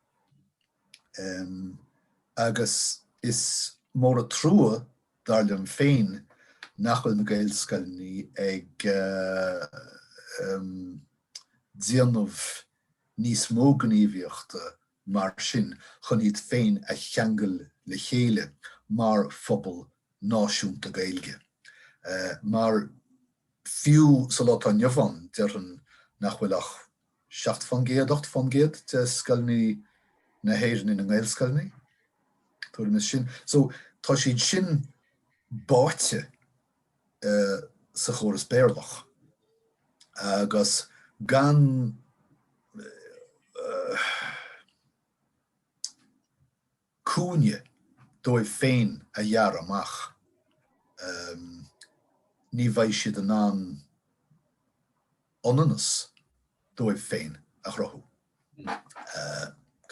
agus is mór an trua Dar liom féin nach bhfuil na Gaelscoileanna ag déanamh níos mó gníomhaíochta mar sin chun iad féin a cheangal le chéile mar phobal náisiúnta Gaeilge. Mar fiú sa lá atá inniu ann, déarfainn nach bhfuil ach seacht fán gcéad, ocht fán gcéad de scoileanna na hÉireann ina nGaelscoileanna, tuairim is sin. So, tá siad sin báite sa chóras Béarlach agus gan eh, cúinne dóibh féin a ghearradh amach, ní bheidh siad in ann ionannas dóibh féin a chruthú.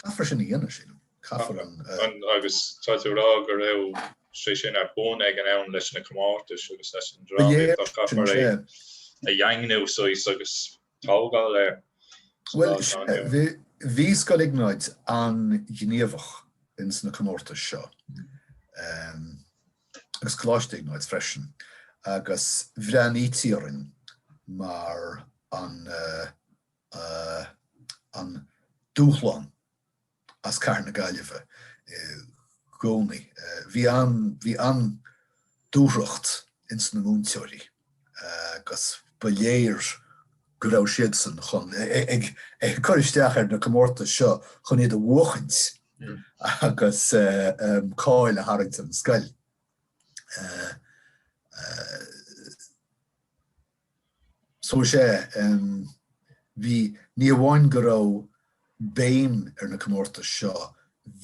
Caithfear sin a dhéanamh, sílim. Caithfear an. Agus tá tú a rá go raibh sé sin ar bun ag an am leis na comórtais agus leis an drámaíocht ach caithfear é a dhaingniú, saghas, agus tógáil air sa lá atá inniu ann. Bhuel, bhí Scoil Iognáid an-ghníomhach ins na comórtais seo agus Coláiste Iognáid freisin agus bhreathnaítí orainn mar an dúshlán. as cathair na Gaillimhe i gcónaí. Bhí an, bhí an-dúthracht ins na múinteoirí agus ba léir go raibh siadsan chun, ag, ag cur isteach ar na comórtais seo chun iad a bhuachaint agus cáil a tharraingt ar an scoil. So is ea, em, bhí, ní hamháin go raibh béim ar na comórtais seo,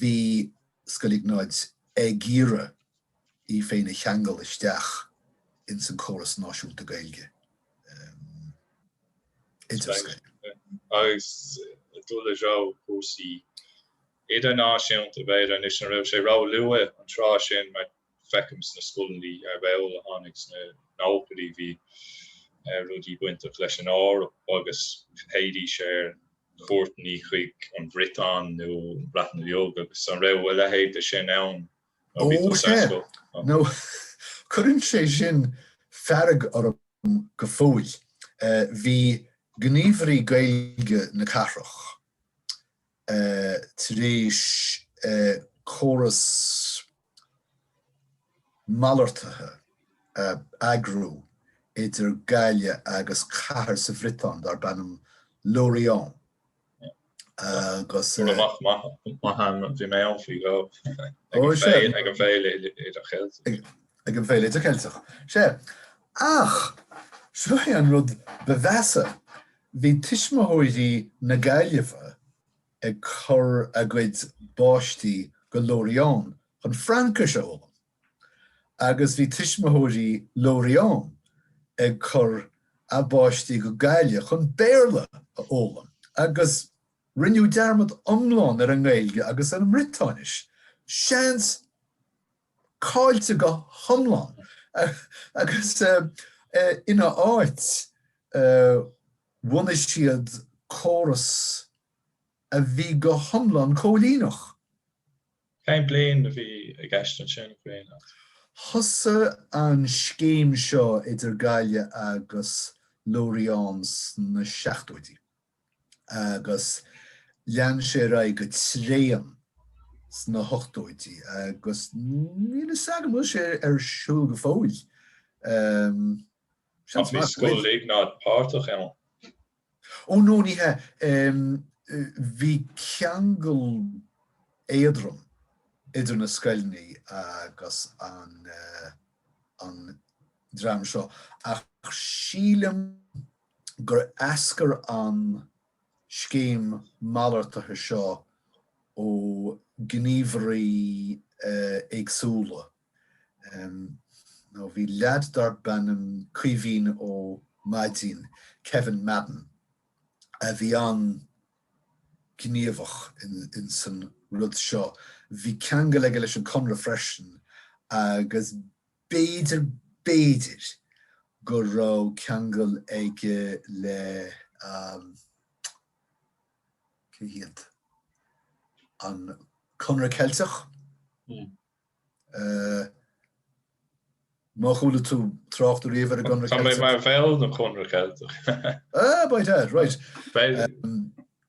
bhí Scoil Iognáid ag iarraidh í féin a cheangal isteach ins an córas náisiúnta Gaeilge, em, idirscoile. Agus ag dul i dtreo cúrsaí idirnáisiúnta, b'fhéidir, anois, an raibh sé róluath an tráth sin, mar, feicim sna scoileannaí, abair, a tháinig sna nóchaidí, bhí rudaí bainteach leis an Eoraip agus théidís ar chuairteanna chuig an Bhriotáin nó an Bhreatain Bheag agus an raibh a leithéid de sin ann nuair a bhí tusa ar scoil? Ó, no. Cuireann sé sin fearg orm go fóill. Bhí gníomhairí Gaeilge na cathrach. tar éis córas malartaithe a eagrú idir Gaillimh agus cathair sa Bhriotáin darb ainm Lorient agus ag an bhFéile Idircheilteach. Sea, ach seo é an rud ba mheasa. Bhí tuismitheoirí na Gaillimhe ag cur a gcuid bpáistí go Lorient chun Fraincis a fhoghlaim agus bhí tuismitheoirí Lorient ag cur a bpáistí go Gaillimh chun Béarla a fhoghlaim agus rinneadh dearmad iomlán ar an nGaeilge agus ar an mBriotáinis. Seans. caillte go hiomlán agus ina áit bhunaigh siad córas a bhí go hiomlán cóilíneach. Cén bliain a bhí i gceist ansin, an cuimhin leat? Thosaigh an scéim seo idir Gaillimh agus Lorient sna seachtóidí. agus lean sé ar aghaidh go tréan sna hochtóidí agus níl a fhios agam an bhfuil sé ar siúl go fóill. Seans maith go bhfuil. Bhí Scoil Iognáid páirteach ann. Ó no ní hea. Bhí ceangal éadrom idir na scoileannaí agus an dream seo ach sílim, gur eascair an scéim malartaithe seo ó ghníomhairí éagsúla, nó bhí leaid darbh ainm Caoimhín Ó Maidín, Kevin Madden, a bhí an-ghníomhach in san rud seo. Bhí ceangal aige leis an gConradh freisin agus B'fhéidir, b'fhéidir go raibh ceangal aige le, an Conradh Ceilteach. Má chuala tú trácht riamh ar an gConradh Ceilteach. Tá mé mar bhall den Chonradh Ceilteach. Right.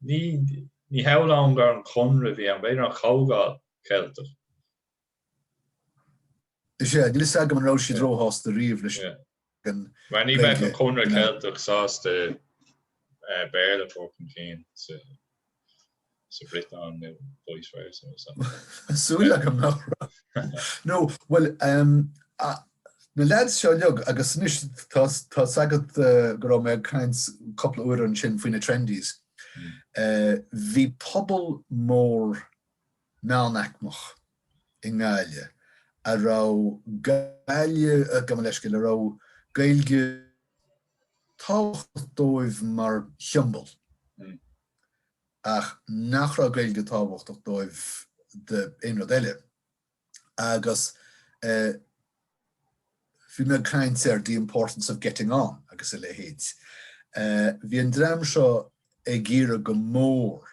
Ní hamháin gur an Conradh a bhí ann, b'fhéidir an Chomhdháil Cheilteach. Is ea, níl fhios agam an raibh siad róshásta riamh leis. Mar ní bheadh an Conradh Ceilteach sásta Béarla a thabhairt chun cinn sa Bhriotáin nó vice versa. Tá súil agam nach raibh. Nó, bhuel, em, na leaids seo uilig agus anois, tá a fhios agat go raibh mé ag caint cúpla uair ansin faoi na trendies. Eh, bhí pobal mór. meánaicmeach i nGaillimh a raibh Gaillimh, gabh mo leithscéal, a raibh Gaeilge tábhachtach dóibh mar shiombail ach nach raibh Gaeilge tábhachtach dóibh d'aon rud eile. Agus bhí mé ag caint ar the importance of getting on agus a leithéid. Bhí an dream seo ag iarraidh go mór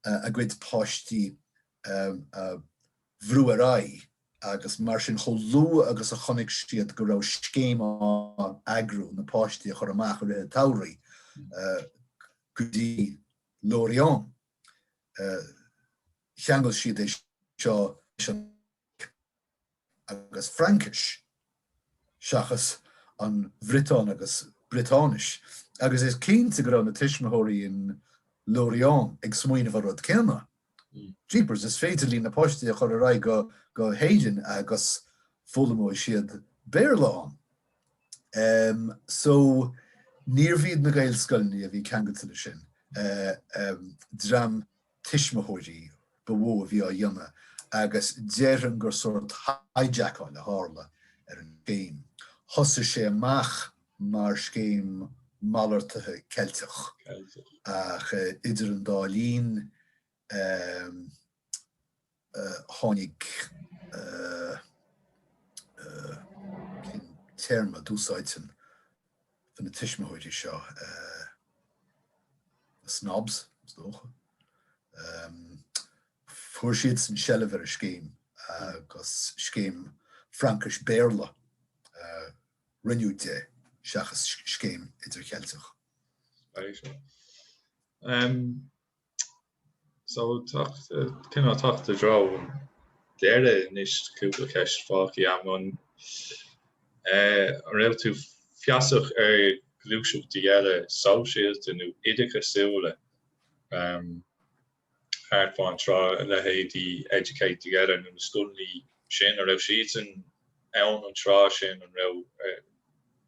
a gcuid páistí a bhrú ar aghaidh agus mar sin chomh luath agus a chonaic siad go raibh scéim á eagrú na páistí a chur amach i rith an tsamhraidh go dtí Lorient cheangail siad é seo leis an agus Fraincis, seachas an Bhriotáin agus Briotáinis, agus is cinnte go raibh na tuismitheoirí in Lorient ag smaoineamh an rud céanna. Jeepers, is féidir linn na páistí a chur ar aghaidh go hÉirinn agus foghlaimeoidh siad Béarla ann. Em, so, níorbh iad na Gaelscoileanna a bhí ceangailte leis sin. Em, dream tuismitheoirí ba mhó a bhí á dhéanamh agus déarfainn gur sórt hijackáil a tharla ar an scéim. Thosaigh sé amach mar scéim mhalartaithe Cheilteach ach idir an dá linn, tháinig cén téarma a d'úsáidfinn do na tuismitheoirí seo the snobs fuair siadsan seilbh ar an scéim agus scéim Fraincis Béarla a rinneadh de seachas scéim idir-cheilteach. Um. So ag teacht cineál ag teacht i dtreo an deiridh anois cúpla ceist fágtha agam. An raibh tú feasach ar ghluaiseachtaí eile sóisialta nó oideachasúla thart fán tráth, a leithéidí Educate Together nó na scoileanna sin, an raibh siadsan ann an tráth sin, an raibh?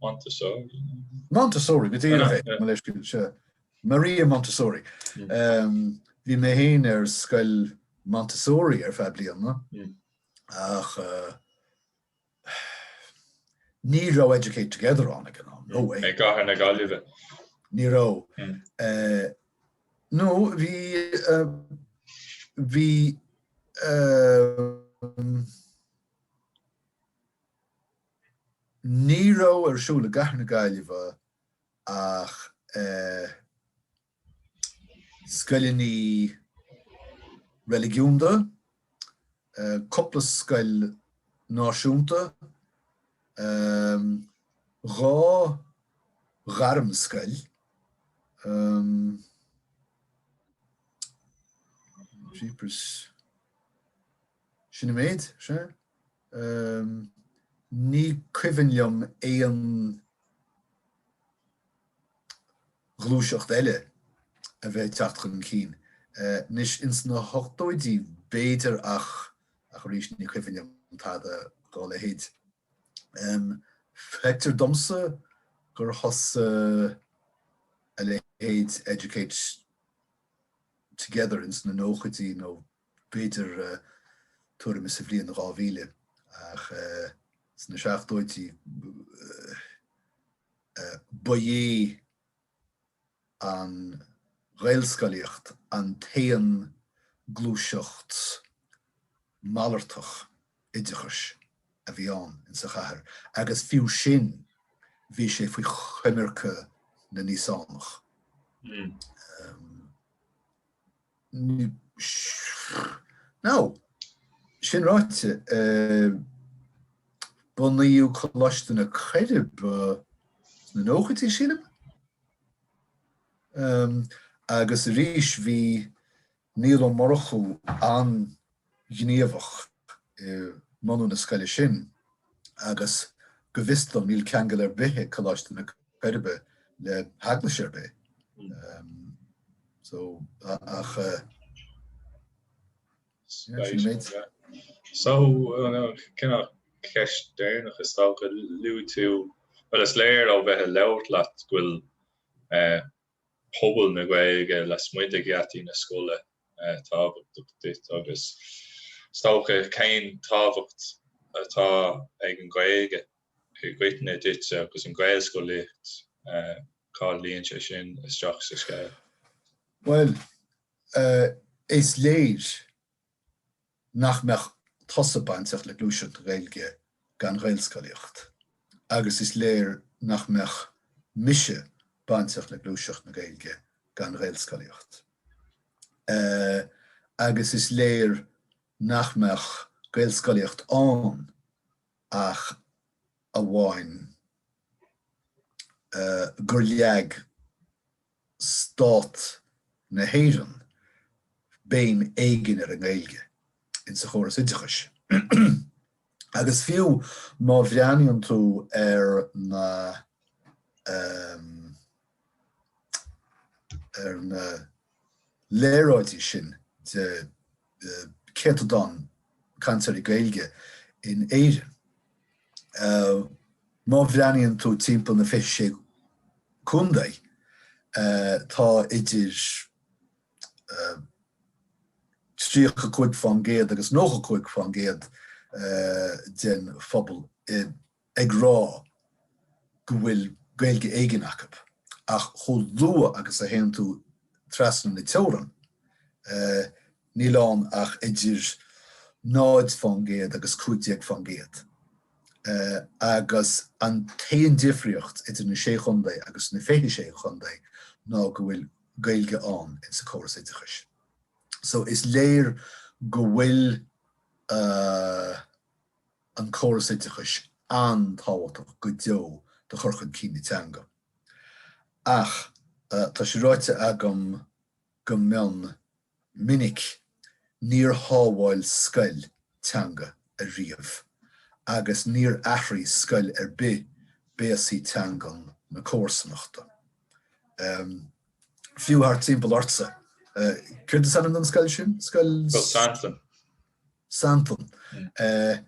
Montessori. Montessori go díreach é, mo leithscéal. Maria Montessori. Bhí mé féin ar scoil Montessori ar feadh bliana ach ní raibh Educate Together ann ag an am, no way. I gcathair na Gaillimhe? Ní raibh. Nó bhí, bhí, Ní raibh ar siúl i gcathair na Gaillimhe ach scoileanna reiligiúnda, cúpla scoil náisiúnta, dhá ghairmscoil, jeepers, sin an méid, is ea? ní cuimhin liom aon ghluaiseacht eile a bheith ag teacht chun cinn. Anois, ins na hochtóidí, b'fhéidir ach arís ní cuimhin liom tada dá leithéid. Feictear domsa gur thosaigh a leithéid Educate Together ins na nóchaidí nó B'fhéidir tuairim is sa bhliain 2000 ach ins na seachtóidí ba é an Ghaelscolaíocht an t-aon gluaiseacht malartach oideachais a bhí ann insa chathair agus fiú sin bhí sé faoi choimirce na nÍosánach. Now, sin ráite, bunaíodh Coláiste na Coiribe sna nóchaidí, sílim? Agus arís bhí Niall Ó Murchú an-. ghníomhach i mbunú na scoile sin agus go bhfios dom níl ceangal ar bith ag Coláiste na Coiribe le hEaglais ar bith so ach yeah sin an méid. So ceist deireanach is dócha, luaigh tú, bhuel is léir ó bheith ag labhairt leat go bhfuil pobal na Gaeilge lasmuigh de gheataí na scoile tábhachtach duit agus is dócha cén tábhacht atá ag an Ghaeilge i gcoitinne duitse agus an Ghaelscolaíocht, cá luíonn sé sin isteach sa scéal? Bhuel, is léir. nach mbeadh tusa bainteach le gluaiseacht na Gaeilge gan Ghaelscolaíocht agus is léir nach mbeadh mise bainteach le gluaiseacht na Gaeilge gan Ghaelscolaíocht agus is léir nach mbeadh Gaelscolaíocht ann ach amháin gur leag stát na hÉireann béim éigin ar an nGaeilge in sa chóras oideachais agus fiú má bhreathnaíonn tú ar na ar na léaráidí sin de céatadán cainteoirí Gaeilge in Éirinn. Má bhreathnaíonn tú timpeall na fiche sé contae tá idir 35% agus 95% den phobal ag rá go bhfuil Gaeilge éigin acu ach chomh luath agus a théann tú trasna na teorann níl ann ach idir 0 fán gcéad agus 15 fán gcéad agus an t-aon difríocht idir na Sé Chontae agus na 26 Chontae ná go bhfuil Gaeilge ann insa chóras oideachais. So is léir go bhfuil. an córas oideachais an-tábhachtach go deo do chur chun cinn na teanga ach tá sé ráite agam go mion minic, níor shábháil scoil teanga ariamh agus níor athraigh scoil ar bith béasaí teangan na comharsanachta. Fiú thart timpeall ortsa, céard is ainm don scoil sin? Scoil. Santain, Eh,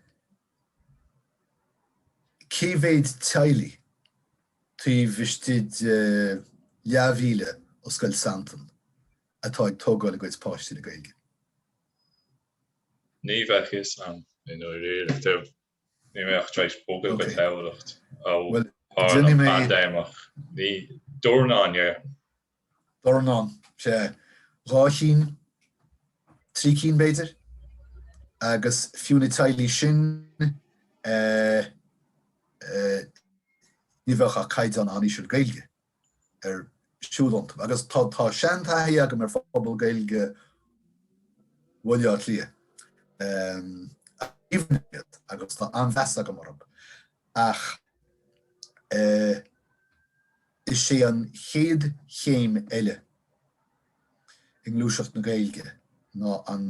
cé mhéid teaghlaigh taobh istigh de leathmhíle ó Scoil Santain atá ag tógáil a gcuid páistí le Gaeilge? Ní bheadh fhios a'm i ndáiríre, táim tar éis bogadh go Tamhlacht ó tharla paindéimeach, níl, dornán, yeah. dornán, sea, dhá chinn, trí cinn b'fhéidir, agus fiú na teaghlaigh sin, ní bheadh ach caighdeán an-íseal Gaeilge ar siúl ann. Agus tá seantaithí agam ar phobal Gaeilge Bhaile Átha Cliath, aoibhinn iad agus tá an-mheas agam orthu ach, Is é an chéad chéim eile i ngluaiseacht na Gaeilge ná an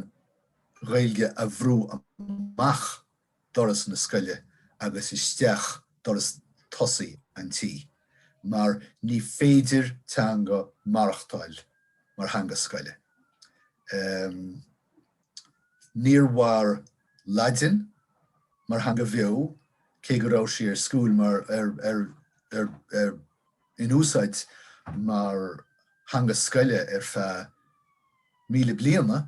Ghaeilge a bhrú amach doras na scoile agus isteach doras tosaigh an tí, mar ní féidir teanga maireachtáil mar theanga scoile. Níor mhair Laidin mar theanga bheo, cé go raibh sí ar school mar, ar, ar, ar, ar, in úsáid mar theanga scoile ar feadh míle bliana,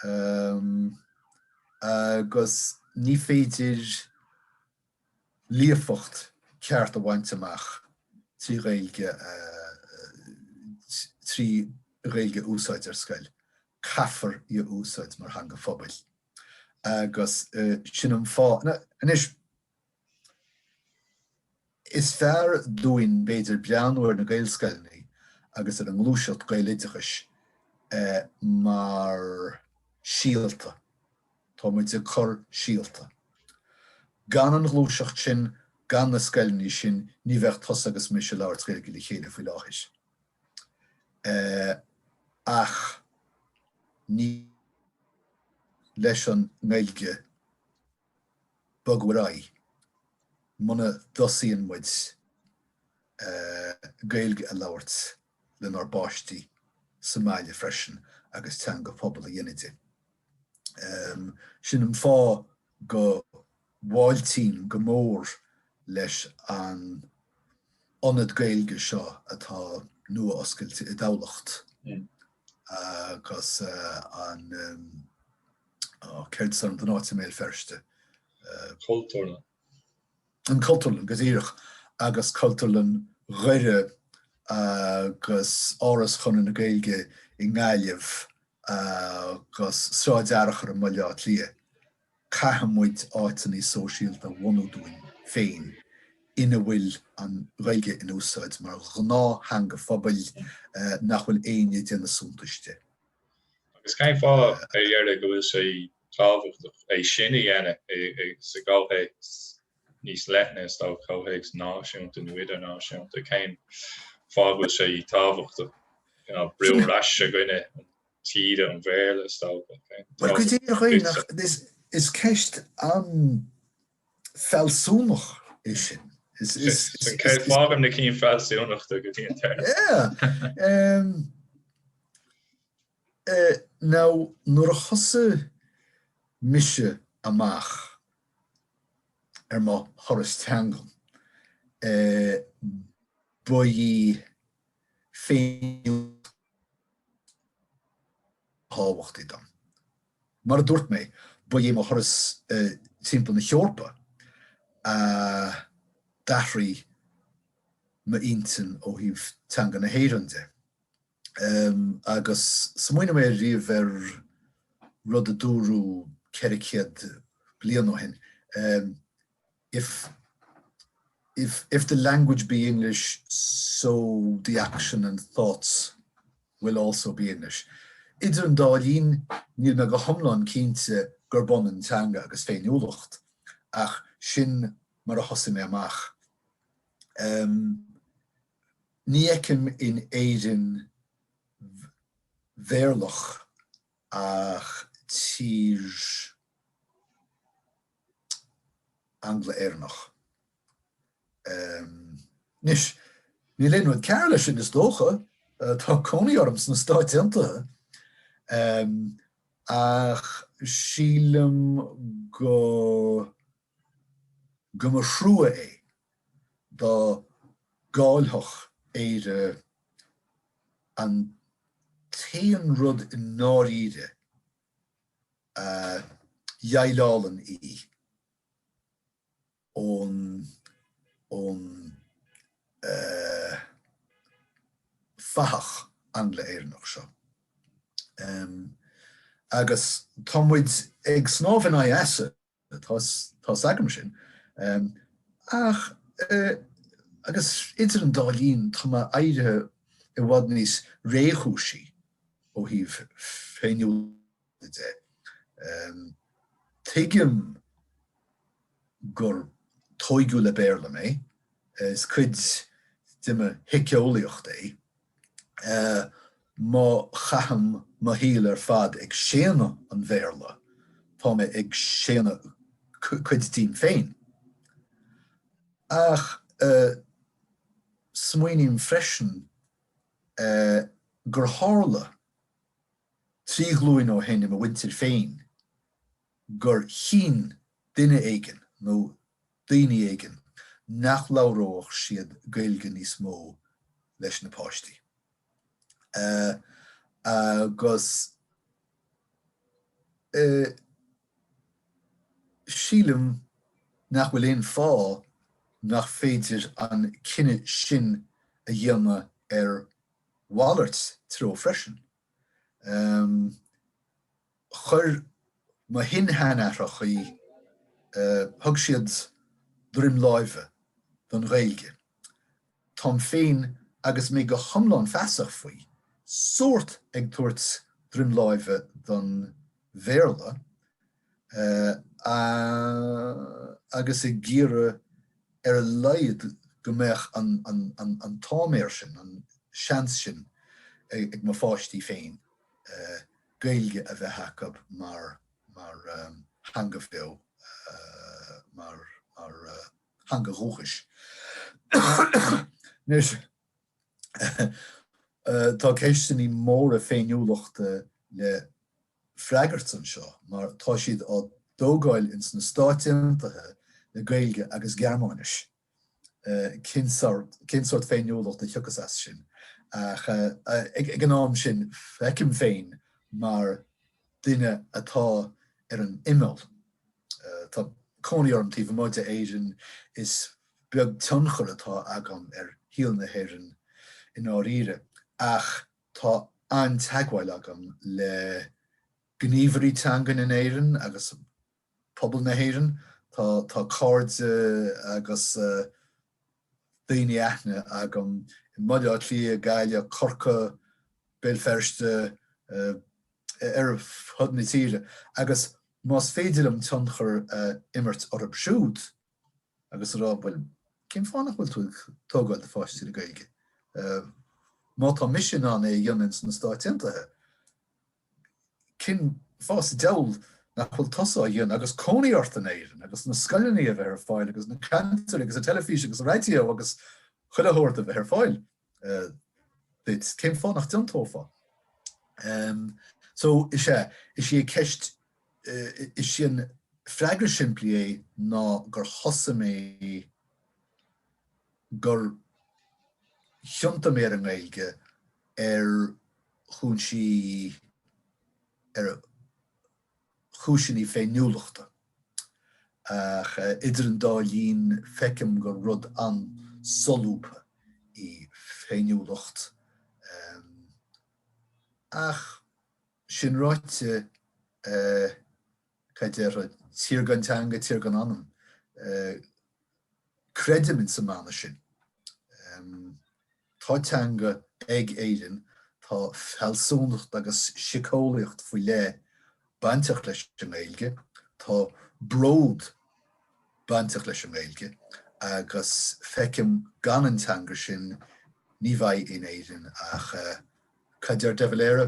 ehm, agus ní féidir. líofacht cheart a bhaint amach trí Ghaeilge a trí Ghaeilge a úsáid ar scoil. Caithfear í a úsáid mar theanga phobail agus sin an fáth anois is fearr dúinn b'fhéidir breathnú ar na Gaelscoileanna agus ar an ngluaiseacht Gaeloideachais mar síolta. Tá muid ag cur síolta. Gan an ghluaiseacht sin, gan na scoileanna sin, ní bheadh tusa agus mise ag labhairt Gaeilge le chéile faoi láthair. Ach ní leis an nGaeilge bogadh ar aghaidh muna dtosaíonn muid Gaeilge a labhairt. lenár bpáistí sa mbaile freisin agus teanga phobail a dhéanamh di. Sin an fáth go bhfáiltím go mór roimh an ionad Gaeilge seo atá nua-oscailte i dTamhlacht agus an, ó céard is ainm don áit i mBéal Feirste? Cultúrlann. An Chultúrlann, go díreach, agus Cultúrlann Dhoire agus Áras Chonradh na Gaeilge i nGaillimh agus Sráid Fhearchair i mBaile Átha Cliath, caithfidh muid áiteanna sóisialta a bhunú dúinn féin ina bhfuil an Ghaeilge in úsáid mar ghnáth-theanga phobail nach bhfuil éinne ag déanamh suntais di. Agus cén fáth, ar dheireadh, go bhfuil sé tábhachtach é sin a dhéanamh sa gcomhthéacs níos leithne, is dócha, comhthéacs náisiúnta nó idirnáisiúnta. Cén fáth go bhfuil sé tábhachtach? Ná brú ar ais i gcoinne taoide an Bhéarla, is dócha. Bhuel, go díreach, is ceist an-fhealsúnach í sin. Fágaim na cinn fhealsúnacha go dtí an deireadh. Now, nuair a thosaigh mise amach ar mo thuras teangan, ba í féiniúlacht ba thábhachtaí dom. Mar a dúirt mé, ba é mo thuras timpeall na hEorpa a d'athraigh m'intinn ó thaobh teanga na hÉireann de. Agus smaoinigh mé riamh ar rud a dúradh ceithre céad bliain ó shin, If, if, if the language be English so the action and thoughts will also be English. Idir an dá linn, níl mé go hiomlán cinnte gurb ionann teanga agus féiniúlacht, ach sin mar a thosaigh mé amach. Ní fheicim in Éirinn Bhéarlach ach tír Angla-Éireannach. Anois, níl aon rud cearr leis sin, is dócha, tá cónaí orm sna Stáit Aontaithe, ach sílim go. go mba thrua é dá gcáillfeadh Éire an t-aon rud i ndáiríre a dheighleálann í ón ón fathach Angla-Éireannach seo. Agus tá muid ag snámh in aghaidh easa. Tá's agam sin. Ach agus idir an dá linn tá mé éirithe i bhfad níos réchúisí ó thaobh féiniúlachta de. Tuigim gur tógadh le Béarla mé, is cuid de mo shíceolaíocht é. Má chaithim mo shaol ar fad ag séanadh an Bhéarla, tá mé ag séanadh cuid díom féin. Ach smaoiním freisin gur tharla trí ghlúin ó shin i mo mhuintir féin gur chinn duine éigin, nó daoine éigin nach labhródh siad Gaeilge níos mó leis na páistí agus sílim nach bhfuil aon fháth nach féidir an cinneadh sin a dhéanamh ar mhalairt treo freisin. Chuir mo shin-seanathrachaí, thug siad droim láimhe don Ghaeilge. Tá mé féin, agus mé go hiomlán feasach faoi, sórt ag tabhairt droim láimhe don Bhéarla agus ag iarraidh ar a laghad go mbeadh an t-áiméar sin, an seans sin ag mo pháistí féin Gaeilge a bheith acub mar theanga bheo, mar theanga dhúchais. Anois, tá ceisteannaí móra féiniúlachta le freagairt anseo mar tá siad á dtógáil ins na Stáit Aontaithe le Gaeilge agus Gearmáinis. cén sórt féiniúlacht a thiocfas as sin ach ag an am sin feicim féin mar duine atá ar an imeall. Tá cónaí orm taobh amuigh d'Éirinn, is beag tionchar atá agam ar shaol na hÉireann i ndáiríre ach tá an-teagmháil agam le gníomhairí teangan in Éirinn agus pobal na hÉireann. Tá tá cairde agus eh daoine aitheantais agam i mBaile Átha Cliath, Gaillimh, Corcaigh, Béal Feirste, eh ar fhud na tíre agus más féidir liom tionchar a imirt orthub siúd agus a rá bhuel cén fáth nach bhfuil tú ag tógáil do pháistí le Gaeilge? Eh má tá mise in ann é a dhéanamh ins na Stáit Aontaithe, Cén fáth sa diabhal nach bhfuil tusa á dhéanamh agus cónaí ort in Éirinn agus na scoileanna a bheith ar fáil agus na ceantair agus an teilifís agus an raidió agus chuile shórt a bheith ar fáil duit? Cén fáth nach ndéanfá? So, is ea, is í an cheist, is é an freagra simplí é ná gur thosaigh mé gur thiontaigh mé ar an nGaeilge ar chúinsí, ar chúiseanna féiniúlachta. Ach idir an dá linn feicim gur rud an-solúbtha í féiniúlacht. Ach sin ráite, cad déarfá, tír gan teanga, tír gan anam. Creidim in san mana sin. Tá teanga ag Éirinn, tá fealsúnacht agus siceolaíocht faoi leith bainteach leis an nGaeilge, tá bród bainteach leis an nGaeilge agus feicim gan an teanga sin ní bheidh in Éirinn ach, cad deir De Valera?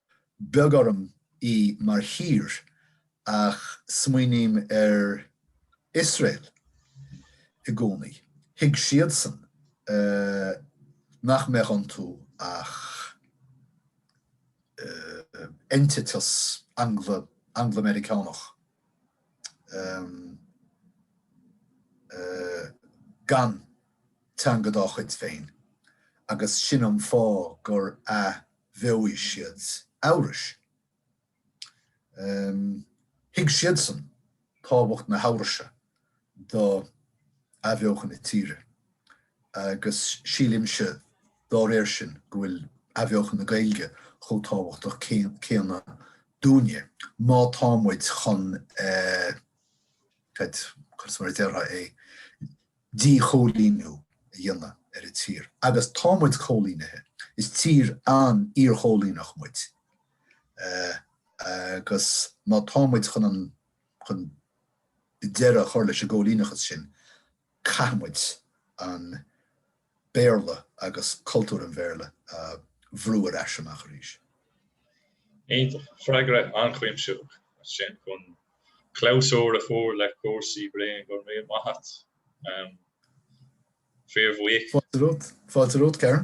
beag orm í mar thír ach smaoiním ar Iosrael i gcónaí. Thuig siadsan nach mbeadh iontu ach eintiteas Anga- Angla-Meiriceánach gan teanga dá chuid féin agus sin an fáth gur. Bheoigh siad Eabhrais. Thuig siadsan tábhacht na hEabhraise do athbheochan na tíre agus sílimse dá réir sin go bhfuil athbheochan na Gaeilge chomh tábhachtach céanna dúinne má tá muid chun, cad mar a déarfá é, díchoilíniú a dhéanamh ar an tír agus tá muid coilínithe, is tír an-iarchoilíneach muid agus má tá muid chun an chun deireadh a chur leis an gcoilíneachas sin caithfidh muid an Béarla agus cultúr an Bhéarla a bhrú ar ais amach arís. Iontach, freagra an-chuimsitheach sin chun clabhsúr a chur le cúrsaí Brian. Go raibh maith a't. Fíorbhuíoch. Fáilte romhat, Karen.